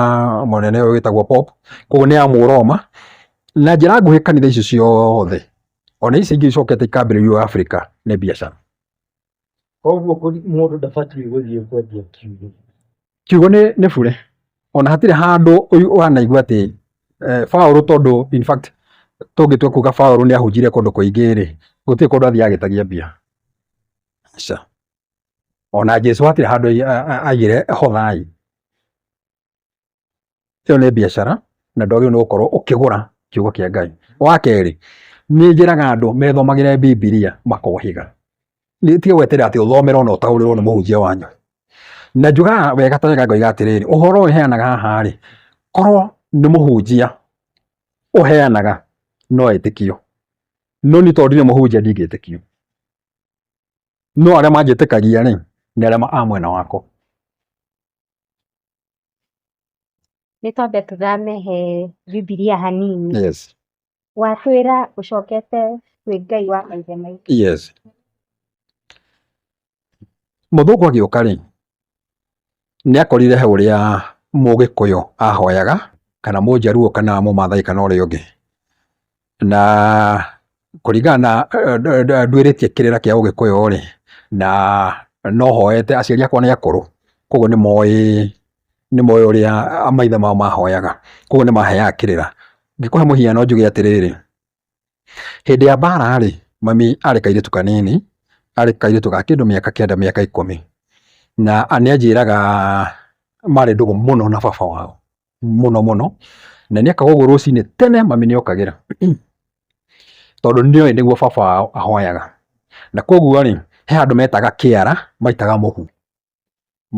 mũnene ũyũ wĩtagwo Pope, koguo nĩ ya Mũroma. Na njĩra nguhĩ kanitha icio ciothe ona ici ingĩ icokete ikambĩrĩrio Africa nĩ biacara. koguo mũndũ ndabatiĩ gũthiĩ kwendia kiugũ kiugũ nĩ nĩ bure ona hatirĩ handũ ũyũ ũhanaigua atĩ eh, Paũlũ tondũ in fact tũngĩtua kuga Paũlũ nĩ ahunjire kũndũ kũingĩ rĩ gũtirĩ kũndũ athiĩ agĩtagia mbia aca ona Jesu hatirĩ handũ ai- a- a- aigire hothai ĩyo nĩ biacara na ndwagĩrĩirwo nĩ gũkorwo ũkĩgũra kiugo kĩa Ngai. Wa kerĩ, nĩ njĩraga andũ methomagĩre Bibilia makohĩga. Nĩ tiga gweterera atĩ ũthomerwo na ũtaũrĩrwo nĩ mũhunjia wanyu. Na njugaga wega ta wega ngoiga atĩrĩrĩ, ũhoro ũyũ heanaga haha rĩ, korwo nĩ mũhunjia ũheanaga no etĩkio. No niĩ tondũ ndirĩ mũhunjia ndingĩtĩkio. No arĩa manjĩtĩkagia rĩ, nĩ arĩa a mwena wakwa. Nĩ twambe tũthame he Bibilia hanini. Yes. Watwĩra ũcokete kwĩ Ngai wa maithe maitũ. Yes. Mũthũngũ agĩũka rĩ, nĩ akorire he ũrĩa Mũgĩkũyũ ahoyaga, kana Mũjaruo, kana Mũmathai, kana ũrĩa ũngĩ. Na kũringana na nduĩrĩtie kĩrĩra kĩa ũgĩkũyũ rĩ, na no hoete, aciari akwa nĩ akũrũ, koguo nĩ moĩ, nĩ moĩ ũrĩa maithe mao mahoyaga, koguo nĩ maheaga kĩrĩra. Ngĩkũhe mũhiano njuge atĩrĩrĩ, hĩndĩ ya mbara rĩ, mami arĩ kairĩtu kanini, arĩ kairĩtu ga kĩndũ mĩaka kenda mĩaka ikũmi, na nĩ anjĩraga marĩ ndũgũ mũno na baba wao. mũno mũno na nĩ akagwo ũguo rũcinĩ tene mami nĩ okagĩra tondũ nĩ oĩ nĩguo baba wao ahoyaga na koguo rĩ he handũ metaga kĩara maitaga mũhu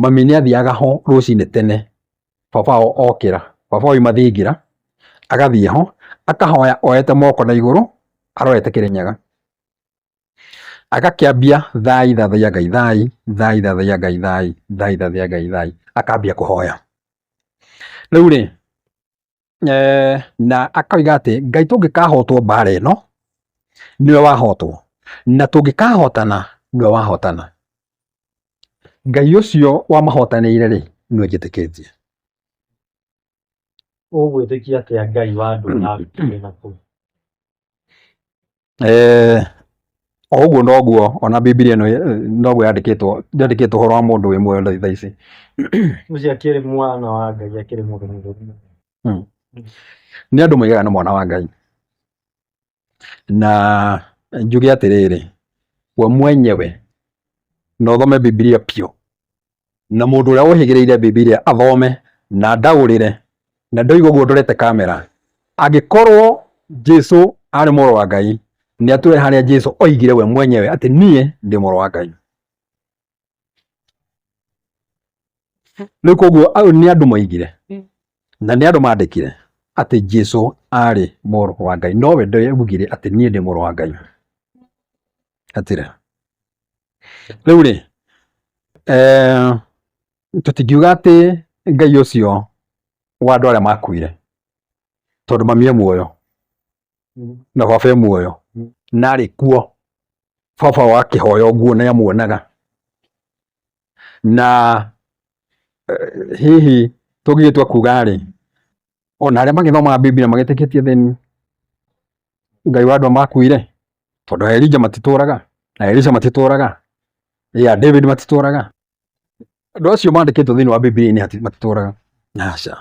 mami nĩ athiaga ho rũcinĩ tene baba wao okĩra baba oima thingira agathiĩ ho akahoya oyete moko na igũrũ arorete kĩrĩnyaga. agakĩambia thai thathaia ngai thai thai thathaia ngai thai thai thathaia ngai thai akambia kũhoya rĩu rĩ eh, na akoiga atĩ ngai tũngĩkahotwo mbara ĩno nĩwe wahotwo na tũngĩkahotana nĩwe wahotana ngai ũcio wamahotanĩire rĩ nĩwe njĩtĩkĩtie ũgwĩtĩkia atĩa ngai wa andũ na ndũire na kũu Eh, o ũguo noguo ona bibilia ĩno eh, noguo yandĩkĩtwo yandĩkĩtwo ũhoro wa mũndũ wĩ muoyo tha- thaa ici mũciĩ akĩrĩ mwana wa ngai akĩrĩ mũndũ mũthũri nĩ andũ moigaga nĩ mwana wa ngai Na njuge atĩrĩrĩ, we mwenyewe na ũthome Bibilia biũ, na mũndũ ũrĩa ũhĩgĩrĩire Bibilia athome na ndaũrĩre, na ndoiga ũguo ndorete kamera. Angĩkorwo Jesu arĩ mũrũ wa Ngai, nĩ atwĩre harĩa Jesu oigire we mwenyewe atĩ niĩ ndĩ mũrũ wa Ngai. rĩu koguo au nĩ andũ moigire Mm. na nĩ andũ mandĩkire atĩ jesu arĩ mũrũ wa ngai nowe ndeugire atĩ niĩ ndĩ mũrũ wa ngai atĩrĩ rĩu rĩ eh, tũtingiuga atĩ ngai ũcio wa andũ arĩa makuire tondũ mami e muoyo na baba e muoyo na arĩ kuo baba wa kĩhoya ũguo nĩ amuonaga na eh, hihi tũngĩgĩtua kuga rĩ ona arĩa magĩthomaga Biblia magĩtĩkĩtie thĩni Ngai wa andũ makuire tondũ Elija matitũraga na Elisha matitũraga ya David matitũraga andũ acio mandĩkĩtwo thĩinĩ wa Biblia-inĩ matitũraga aca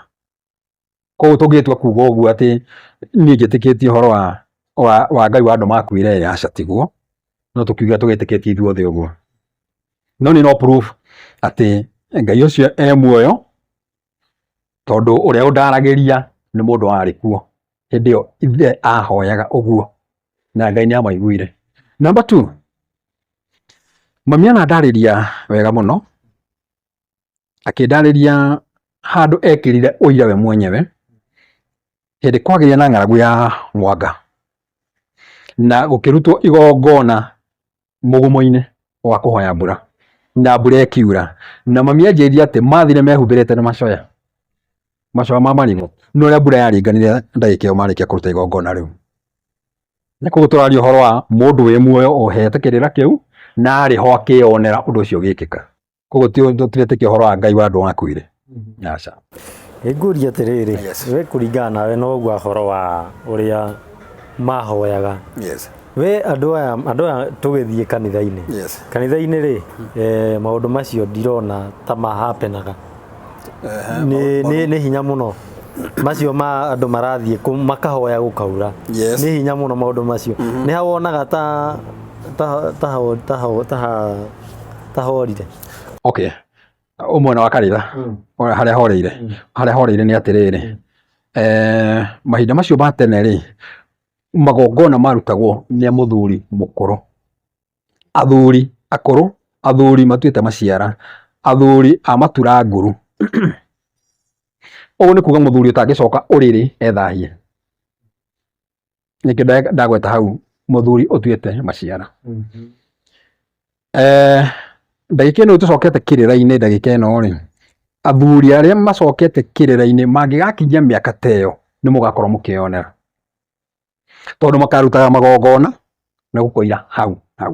Koguo tũngĩtua kuga ũguo atĩ niĩ njĩtĩkĩtie ũhoro wa, wa, wa Ngai wa andũ makuire ĩ, aca tiguo. No tũkiuge tũgĩtĩkĩtie ithuothe ũguo. No nĩ no proof atĩ Ngai ũcio e muoyo, tondũ ũrĩa ũndaragĩria nĩ mũndũ warĩ kuo hĩndĩ ĩyo ithe ahoyaga ũguo, na Ngai nĩ amaiguire. Number two, mami anandarĩria wega mũno, akĩndarĩria handũ ekĩrire ũira we mwenyewe hĩndĩ kwagĩire na ng'aragu ya mwanga na gũkĩrutwo igongona mũgumo-inĩ wa kũhoya mbura na mbura ĩkiura na mami anjĩrire atĩ mathire mehumbĩrĩte na macoya macoya ma marigũ no ũrĩa mbura yaringanire ndagĩka ĩyo marĩkia kũruta igongona rĩu na koguo tũraria ũhoro wa mũndũ wĩ muoyo ohetĩ kĩrĩra kĩu na arĩ ho akĩyonera ũndũ ũcio ũgĩkĩka. koguo ti ti ũretĩkia ũhoro wa ngai wa andũ wakuire aca Nĩngũria atĩrĩrĩ, we kũringana nawe na ũguo ũhoro wa ũrĩa mahoyaga yes we andũ aya andũ aya tũgĩthiĩ kanitha-inĩ yes kanitha-inĩ rĩ eh, maũndũ macio ndirona ta mahapenaga nĩ nĩ- nĩ hinya mũno macio ma andũ marathiĩ kũ- makahoya gũkaura Yes. nĩ hinya mũno maũndũ macio nĩ hawonaga ta ta ta ta ta tahorire okay umwena wa karira mm. haria horeire mm. haria horeire ni atiriri mm. eh mahinda macio ma tene ri magongona marutagwo ni muthuri mukuru athuri akuru athuri matuite maciara athuri a matura nguru uguo ni kuga muthuri utangicoka uriri ethahie nĩkĩo nda- ndagweta hau mũthuri ũtuĩte maciara Eh, ndagĩka ĩno tũcokete kĩrĩra-inĩ ndagĩka ĩno rĩ athuri arĩa macokete kĩrĩra-inĩ mangĩgakinyia mĩaka ta ĩyo nĩ mũgakorwo mũkĩyonera tondũ makarutaga magongona na gũkoira hau hau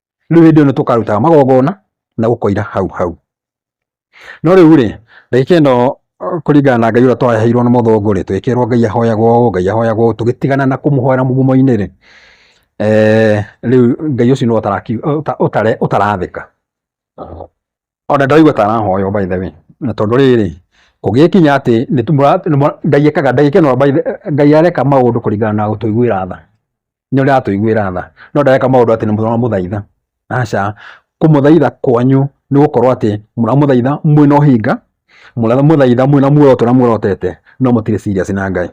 rĩu hĩndĩ ĩyo nĩ tũkarutaga magongona na gũkoira hau hau no rĩu rĩ ndagĩka ĩno kũringana na ngai ũrĩa twaheirwo na mũthũngũ rĩ twĩkĩrwo ngai ahoyagwo ũũ ngai ahoyagwo ũũ tũgĩtigana na kũmũhoera mũgumo-inĩ rĩ eh, rĩu ngai ũcio nĩ ũtarathĩka ona ndaigua ta arahoywo by the way na tondu riri kugikinya ati ni ngai ekaga ndagike no ngai areka maundu kuringana na gutuiguira tha ni uria atuiguira tha no ndareka maundu ati ni muramuthaitha aca kumuthaitha kwanyu ni gukorwo ati muramuthaitha mwina uhinga muramuthaitha mwina muoroto na muorotete no mutire serious na ngai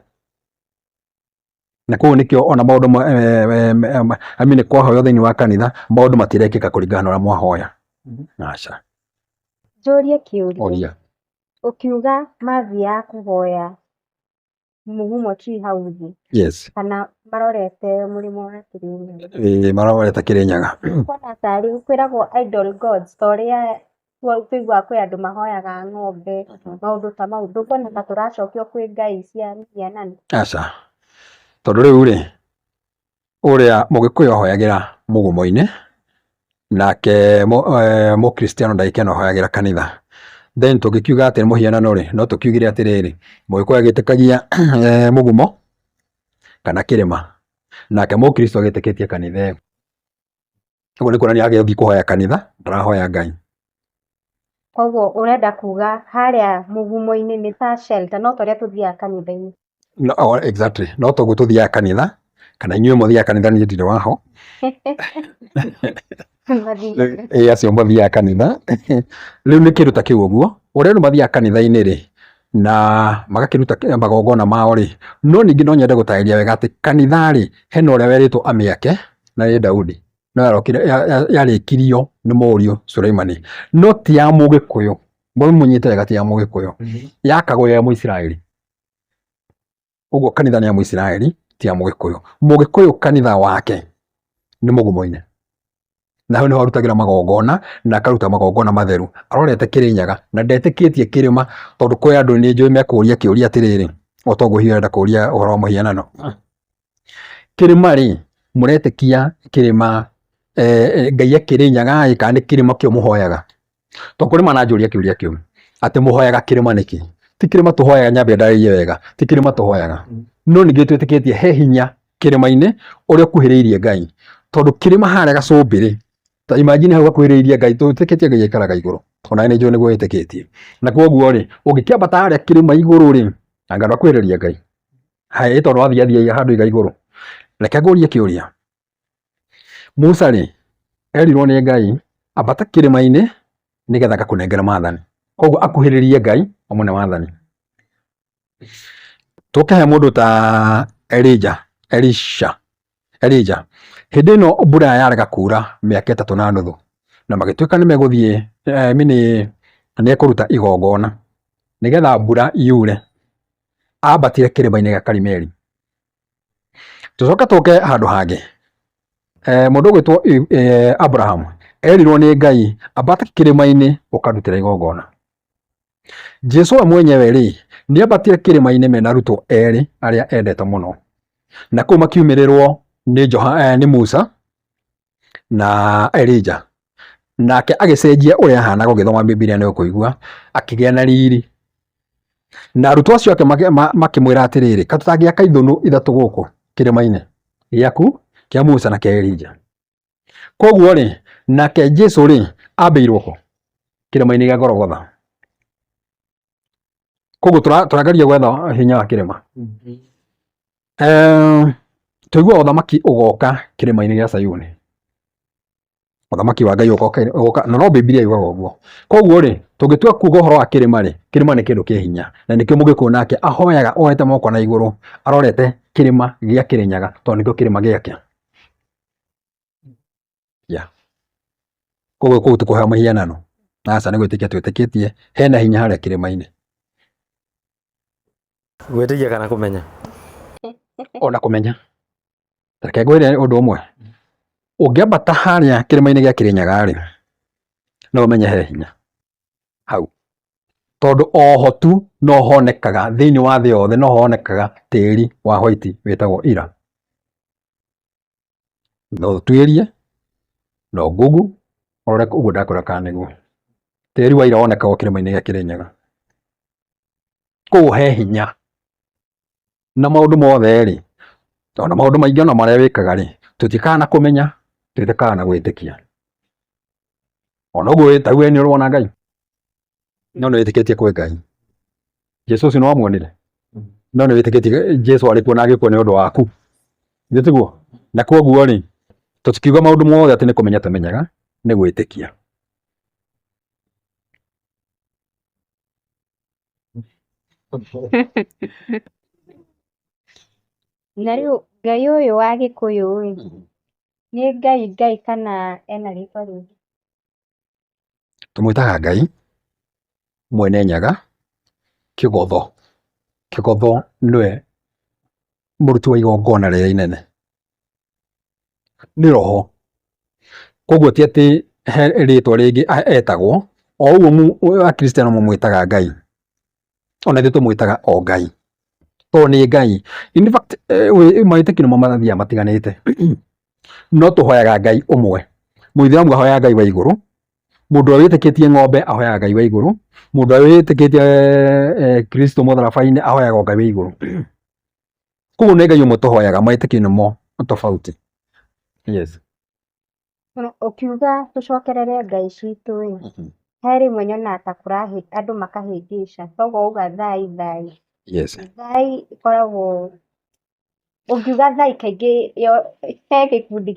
na koguo nĩkĩo ona maũndũ ma- eh, eh, eh, ma- I mean, kwahoywo thĩinĩ wa kanitha maũndũ matirekĩka kũringana na ũrĩa mwahoya aca Njũrie kĩũria. oria Ũkiuga mathi ya kũhoya mũgumo ti hau thĩ yes kana marorete mũrĩmo wa kĩrĩnyaga. Eh, marorete kĩrĩnyaga Kuona tarĩ kwĩragwo idol gods ta ũrĩa kũigua kwĩ andũ mahoyaga ng'ombe, maũndũ ta mau. Ndũkuona ta tũracokio kwĩ ngai cia mĩhianano? Aca. Tondũ rĩu-rĩ, ũrĩa mũgĩkũyũ ahoyagĩra mũgũmo-inĩ, nake mũkristiano ndagĩkĩyana ahoyagĩra kanitha. Then tũngĩkiuga atĩ nĩ mũhianano-rĩ, no tũkiugire atĩrĩrĩ, mũgĩkũyũ agĩtĩkagia mũgumo kana kĩrĩma, nake mũkristo agĩtĩkĩtie kanitha ĩyo. Ũguo nĩ kuonania agĩthiĩ kũhoya kanitha, ndarahoya Ngai. Koguo ũrenda kuga harĩa mũgumo-inĩ nĩ ta shelter, no ta ũrĩa tũthiaga kanitha-inĩ. No, oh, exactly. No toguo tũthiaga kanitha, kana inyuĩ mũthiaga kanitha niĩ ndirĩ waho. Mathiĩ. Rĩu- ĩ acio mathiaga kanitha rĩu nĩ kĩndũ ta kĩu ũguo ũrĩa andũ mathiaga kanitha-inĩ rĩ na magakĩruta kĩ- magongona mao-rĩ no ningĩ no nyende gũtarĩria wega atĩ kanitha-rĩ hena ũrĩa werĩtwo amĩake na nĩ Daudi no yarokire ya- ya- yarĩkirio nĩ mũriũ Sulaimani no ti ya mũgĩkũyũ mũmũnyite wega ti ya mũgĩkũyũ yakagwo ya mũisiraeli Ũguo kanitha nĩ ya Mũisiraeli ti ya Mũgĩkũyũ. Mũgĩkũyũ kanitha wake nĩ mũgumoine na hau nĩho arutagĩra magongona na akaruta magongona matheru arorete Kĩrĩnyaga na ndetĩkĩtie kĩrĩma tondũ kwĩ andũ nĩ njũĩ mekũria kĩũria atĩrĩrĩ o toguo hihi arenda kũria ũhoro wa mũhianano kĩrĩma rĩ mũretĩkia kĩrĩma eh, eh, ngai akĩrĩnyaga ĩ kana nĩ kĩrĩma kĩo mũhoyaga to kũrĩ mananjũria kĩũria kĩu atĩ mũhoyaga kĩrĩma nĩkĩ ti kĩrĩma tũhoyaga nyambe ndarĩrie wega ti kĩrĩma tũhoyaga no ningĩ twĩtĩkĩtie he hinya kĩrĩma-inĩ ũrĩa ũkuhĩrĩirie ngai tondũ kĩrĩma harĩa gacũmbĩrĩ ta imagine hau gakuhĩrĩirie ngai twĩtĩkĩtie ngai aikaraga igũrũ ona nĩ njũĩ nĩguo ĩtĩkĩtie na koguo rĩ ũngĩkĩambata harĩa kĩrĩma igũrũ rĩ anga ndwakuhĩrĩria ngai haya ĩtondũ wathiathiaga handũ iga igũrũ reke ngũrie kĩũria Musa rĩ, erirwo nĩ Ngai ambata kĩrĩma-inĩ nĩgetha ngakũnengere maathani. Koguo akuhĩrĩrie Ngai amũne maathani. Tũke he mũndũ ta Elija, Elisha, Elija. Hĩndĩ ĩno mbura yarega kuura mĩaka ĩtatũ na nuthu, na magĩtuĩka nĩ megũthiĩ I mean nĩ ekũruta igongona nĩgetha mbura yure, ambatire kĩrĩma-inĩ gĩa Karimeli. Tũcoke tũke handũ hangĩ, eh, mũndũ ũgwĩtwo eh, Abraham erirwo nĩ Ngai ambate kĩrĩma-inĩ ũkarutĩra igongona. Jesu we mwenyewe rĩ nĩ ambatire kĩrĩma-inĩ mena arutwo erĩ arĩa endete mũno, na kũu makiumĩrĩrwo nĩ, Joha, eh, nĩ Musa na Elija. Nake agĩcenjia ũrĩa ahanaga ũgĩthoma Bibilia nĩ ũkũigua, akĩgĩa na riri. Na arutwo acio ake makĩmwĩra atĩrĩrĩ, ka tũtangĩaka ithũnũ ithatũ gũkũ kĩrĩma-inĩ gĩaku kĩa Musa na kĩa Elija. Koguo rĩ, nake Jesu rĩ, ambĩirwo kũ? Kĩrĩma-inĩ gĩa Gologotha. koguo tũrageria gwetha hinya wa kĩrĩma tũigua ũthamaki ũgoka kĩrĩma-inĩ gĩa Sayuni ũthamaki wa Ngai ũgoka na no Bibilia yugaga ũguo koguo rĩ tũngĩtua kuuga ũhoro wa kĩrĩma rĩ kĩrĩma nĩ kĩndũ kĩ hinya na nĩkĩo mũgĩkũyũ nake ahoyaga ohete moko na igũrũ arorete kĩrĩma gĩa Kĩrĩnyaga tondũ nĩkĩo kĩrĩma gĩake Yeah. Koguo kũu ti kũheo mũhianano. Aca nĩ gwĩtĩkia twĩtĩkĩtie hena hinya harĩa kĩrĩma-inĩ. Gwĩtĩkia kana kũmenya? Ona kũmenya. Reke ngwĩre ũndũ ũmwe. Ũngĩambata harĩa kĩrĩma-inĩ gĩa Kĩrĩnyaga rĩ, no ũmenye he hinya hau. Tondũ oho tu no honekaga thĩinĩ wa thĩ yothe no honekaga tĩri wa white wĩtagwo Ira. no ũtuĩrie, no google ũrore ũguo ndakwĩra kana nĩguo. Tĩri wa ira wonekaga o kĩrĩma-inĩ gĩa Kĩrĩnyaga. Kũu he hinya, na maũndũ mothe rĩ, ona maũndũ maingĩ ona marĩa wĩkaga rĩ, tũtiũkaga na kũmenya, tũtiũkaga na gwĩtĩkia. ona ũguo wĩtagu nĩ ũrona ngai no nĩ wĩtĩkĩtie kwĩ ngai jesu ũcio nĩ wamuonire no nĩ wĩtĩkĩtie jesu arĩ kuo na agĩkua nĩ ũndũ waku nĩ tiguo na koguo rĩ tũtikiuga maũndũ mothe atĩ nĩ kũmenya tũmenyaga nĩ gwĩtĩkia Na rĩu Ngai ũyũ wa Gĩkũyũ rĩ, nĩ Ngai Ngai kana ena rĩtwa rĩngĩ? Tũmwĩtaga Ngai mwene nyaga, kĩgotho. Kĩgotho nĩwe mũruti wa igongona rĩrĩa inene. Nĩ roho, koguo ti atĩ he rĩtwa rĩngĩ etagwo, o ũguo Akristiano mamwĩtaga Ngai, ona ithuĩ tũmwĩtaga o Ngai tondũ nĩ Ngai. In fact eh, wĩ- mawĩtĩkio nĩmo mathiaga matiganĩte no tũhoyaga Ngai ũmwe. Mũithĩramu ahoyaga Ngai wa igũrũ, mũndũ ũrĩa wĩtĩkĩtie ng'ombe ahoyaga Ngai wa igũrũ, mũndũ ũrĩa wĩtĩkĩtie eh, Kristo mũtharaba-inĩ ahoyaga o Ngai wa igũrũ. Koguo nĩ Ngai ũmwe tũhoyaga, mawĩtĩkio nĩmo tofauti. Yes. Ũkiuga tũcokerere Ngai citũ ĩ, he rĩmwe nyonaga ta andũ makahĩngĩca toguo wauga thai thai, thai ĩkoragwo, ũngiuga thai kaingĩ he gĩkundi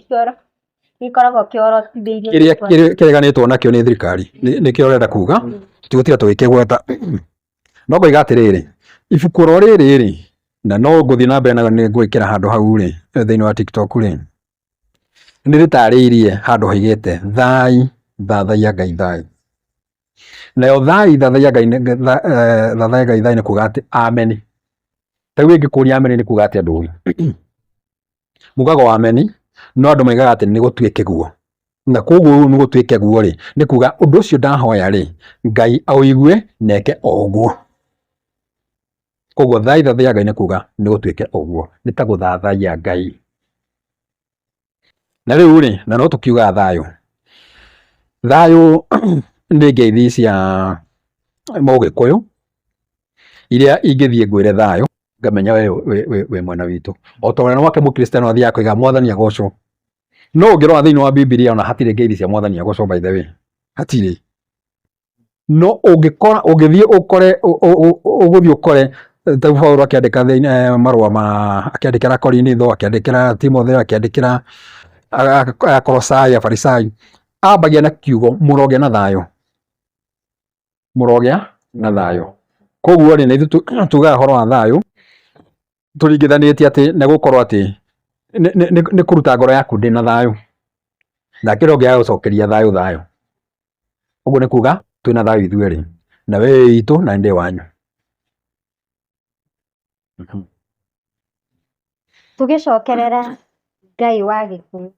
gĩkoragwo kĩorotithĩirio gĩkĩ. Kĩrĩa kĩreganĩtwo nakĩo nĩ thirikari nĩkĩo ũrenda kuga, tũtigũtinda tũgĩkĩgweta. No ngoiga atĩrĩrĩ, ibuku oro rĩrĩ rĩ, na no ngũthiĩ na mbere nĩngũrĩkĩra handũ hau rĩ, thĩinĩ wa Tiktok rĩ, nĩrĩtarĩirie handũ haigĩte thai thathaiya Ngai thai. Nayo thai thathaiya Ngai thathaiya Ngai thai nĩ kuga atĩ ameni. Ta rĩu ĩngĩkũria ameni nĩ kuga atĩa andũ ũĩ? Mugaga o ameni no andũ maugaga atĩ nĩ gũtuĩke guo. Na koguo rĩu nĩ gũtuĩke guo rĩ, nĩ kuga ũndũ ũcio ndahoya rĩ, Ngai aũigue na eke o ũguo. Koguo thaitha thĩ ya Ngai nĩ kuga nĩ gũtuĩke ũguo, nĩ ta gũthathaiya Ngai. Na rĩu rĩ, na no tũkiuga thayũ, thayũ nĩ ngeithi cia mũgĩkũyũ iria ingĩthiĩ ngwĩre thayũ ngamenya we wĩ mwena witũ. O ta ũrĩa nake mũkristiano athiaga koiga mwathani agocwo. No ũngĩrora thĩinĩ wa Bibilia ona hatirĩ ngeithi cia mwathani agocwo by the way, hatirĩ. no ũngĩkora ũngĩthiĩ ũkore ũ- ũ- ũ- ũgũthiĩ ũkore eh, ta Paulo akĩandĩka thĩinĩ eh, marũa ma akĩandĩkĩra Korinitho akĩandĩkĩra Timotheo akĩandĩkĩra a- a- Akolosai Afarisai ambagia na kiugo mũrogĩa na thayũ mũrogĩa na thayũ koguo rĩ nĩ ithuĩ tu- tugaga ũhoro wa thayũ tũringithanĩtie atĩ nĩ gũkorwo atĩ nĩ kũruta ngoro yaku ndĩna thayũ na kĩrĩa ũngĩaga gũcokeria thayũ thayũ, ũguo nĩ kuga twĩna thayũ ithuĩ erĩ na we wĩ witũ na niĩ ndĩ wanyu. Tũgĩcokerera Ngai wa Gĩkũyũ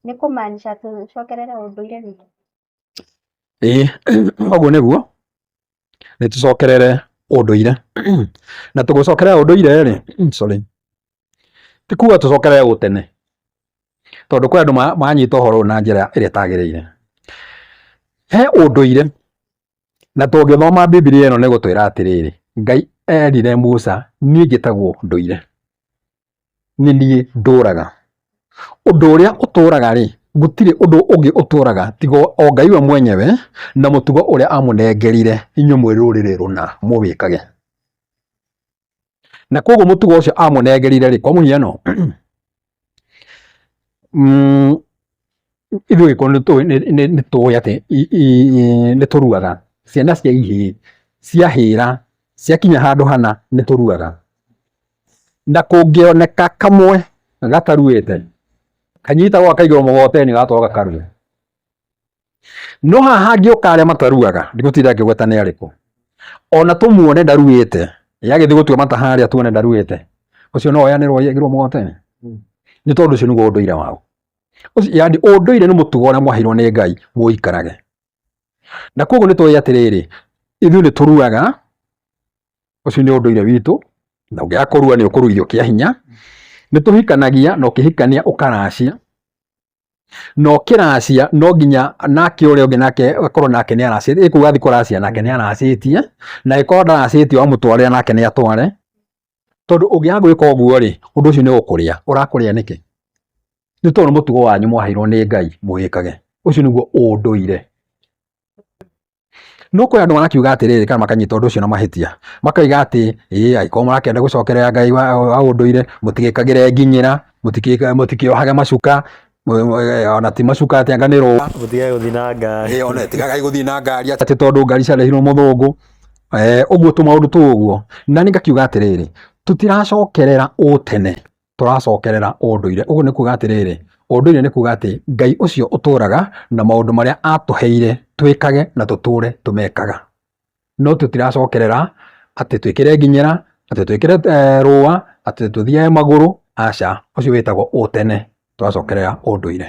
nĩ kũmaanisha tũcokerere ũndũire witũ? Ĩĩ ũguo nĩguo, nĩ tũcokerere ũndũire na tũgĩcokerera ũndũire rĩ, sorry, ti kuga tũcokerere ũtene tondũ kwĩ andũ manyita ũhoro ũyũ na njĩra ĩrĩa ĩtagĩrĩire. He ũndũire na tũngĩthoma Bibilia ĩno nĩ ĩgũtwĩra atĩrĩrĩ, Ngai erire Musa niĩ njĩtagwo ndũire. nĩ niĩ ndũraga. Ũndũ ũrĩa ũtũraga rĩ, gũtirĩ ũndũ ũngĩ ũtũraga tiga o Ngai we mwenyewe na mũtugo ũrĩa amũnengerire inyuĩ mwĩ rũrĩrĩ rũna mũwĩkage. Na koguo mũtugo ũcio amũnengerire rĩ, kwa mũhiano ithuĩ Agĩkũyũ nĩ tũĩ atĩ nĩ tũruaga, ciana cia ihĩĩ ciahĩra ciakinya handũ hana nĩ tũruaga. na kũngĩoneka kamwe gataruĩte kanyitagwo akaigwo mũgoteni gatoo gakarue no haha ngĩũka arĩa mataruaga ndigũtinda ngĩgweta nĩ arĩkũ ona tũmuone ndaruĩte yagĩthiĩ gũtua mata harĩa tuone ndaruĩte ũcio no oyanĩrwo yagĩrwo mũgoteni nĩ tondũ ũcio nĩguo ũndũire wao yani ũndũire nĩ mũtugo ũrĩa mwaheirwo nĩ ngai mũikarage na koguo nĩ tũĩ atĩrĩrĩ ithuĩ nĩ tũruaga ũcio nĩ ũndũire witũ na ũngĩaga kũrua nĩ ũkũruithio kĩa hinya nĩ tũhikanagia na ũkĩhikania ũkaracia na ũkĩracia no nginya nake ũrĩa ũngĩ nake akorwo nake nĩ aracĩtie ĩĩ kuga athiĩ kũracia nake nĩ aracĩtie na ĩkorwo ndaracĩtie wamũtwarĩra nake nĩ atware tondũ ũngĩaga gwĩka ũguo rĩ ũndũ ũcio nĩ ũkũrĩa ũrakũrĩa nĩkĩ nĩ tondũ nĩ mũtugo wanyu mwaheirwo nĩ Ngai mũwĩkage ũcio nĩguo ũndũire No kũrĩ andũ marakiuga atĩrĩrĩ kana makanyita ũndũ ũcio na mahĩtia, makoiga atĩ ĩĩ angĩkorwo mũrakĩenda gũcokerera Ngai wa, wa ũndũire mũtigĩkagĩre nginyĩra, mũtikĩ- mũtikĩohage macuka, mũ- mũ- eh, ona ti macuka atĩ anga nĩ rũa Mũtigae gũthiĩ na ngari. ĩyo nĩ tigagai gũthiĩ na ngari atĩ tondũ ngari ciarehirwo mũthũngũ Eh, ũguo tũmaũndũ tũu ũguo na nĩ ngakiuga atĩrĩrĩ tũtiracokerera ũtene tũracokerera ũndũire. Ũguo nĩ kuga atĩrĩrĩ, ũndũire nĩ kuga atĩ Ngai ũcio ũtũraga na maũndũ marĩa atũheire twĩkage na tũtũre tũmekaga. No tũtiracokerera atĩ twĩkĩre nginyĩra, atĩ twĩkĩre eh, rũa, atĩ tũthiage magũrũ, aca, ũcio wĩtagwo ũtene, tũracokerera ũndũire.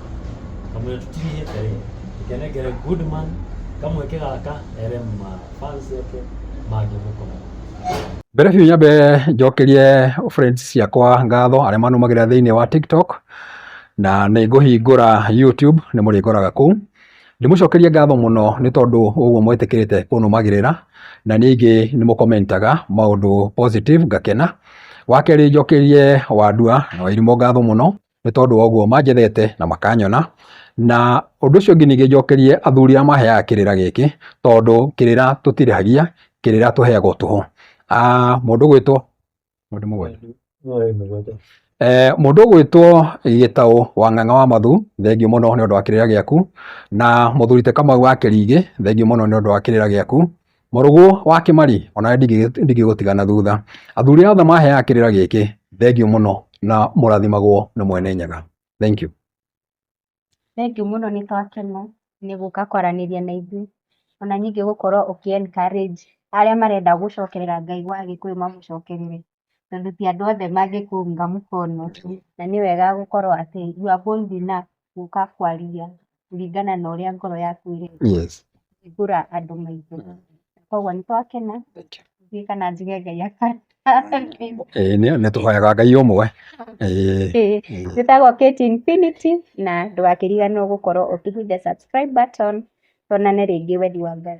kamũrĩtũkinyie tarĩ tũkenengere Goodman kamweke gaka ere ma fans yake mangĩmũkora mbere biũ nyambe njokerie friends ciakwa ngatho arĩa manumagĩra thĩinĩ wa tiktok na nĩ ngũhingũra youtube nĩ mũrĩngoraga kũu ndĩmũcokerie ngatho mũno nĩ tondũ ũguo mwĩtĩkĩrĩte kũnumagĩrĩra na ningĩ nĩ mũkomentaga maũndũ positive ngakena wa kerĩ njokerie wandua na wairimũ ngatho mũno nĩ tondũ wa ũguo manjethete na makanyona, na ũndũ ũcio ũngĩ ningĩ njokerie athuri arĩa maheaga kĩrĩra gĩkĩ, tondũ kĩrĩra tũtirĩhagia, kĩrĩra tũheagwo tũhũ. Mũndũ ũgwĩtwo mũndũ ũgwĩtwo Gĩtaũ wa Ng'ang'a wa Mathu, thengiũ mũno nĩ ũndũ wa kĩrĩra gĩaku, na mũthuri ti Kamau wa Kĩringĩ, thengiũ mũno nĩ ũndũ wa kĩrĩra gĩaku. Mũrũgũ wa Kĩmari, onawe ndingĩgũtiga na thutha. Athuri othe maheaga kĩrĩra gĩkĩ, thengiũ mũno na mũrathimagwo nĩ Mwene Nyaga. Thank you. Thengiũ mũno nĩ twakena nĩ gũka kwaranĩria na ithuĩ, ona ningĩ gũkorwo ũkĩ encourage arĩa marenda gũcokerera Ngai wa Gĩkũyũ mamũcokerere. tondũ ti andũ othe mangĩkũhũra mũkono na nĩ wega gũkorwo atĩ you are bold enough gũka kwaria kũringana na ũrĩa ngoro yaku ĩrenda kũhingũra andũ maitho. Koguo nĩ twakena ithuĩ kana njuge Ngai akarathima. Ĩĩ nĩ nĩ tũhoyaga Ngai ũmwe. Njĩtagwo Kate Infinity na ndũgakĩriganĩrwo gũkorwo ũkĩ hit the subscribe button. Tuonane rĩngĩ wendi wa Ngai.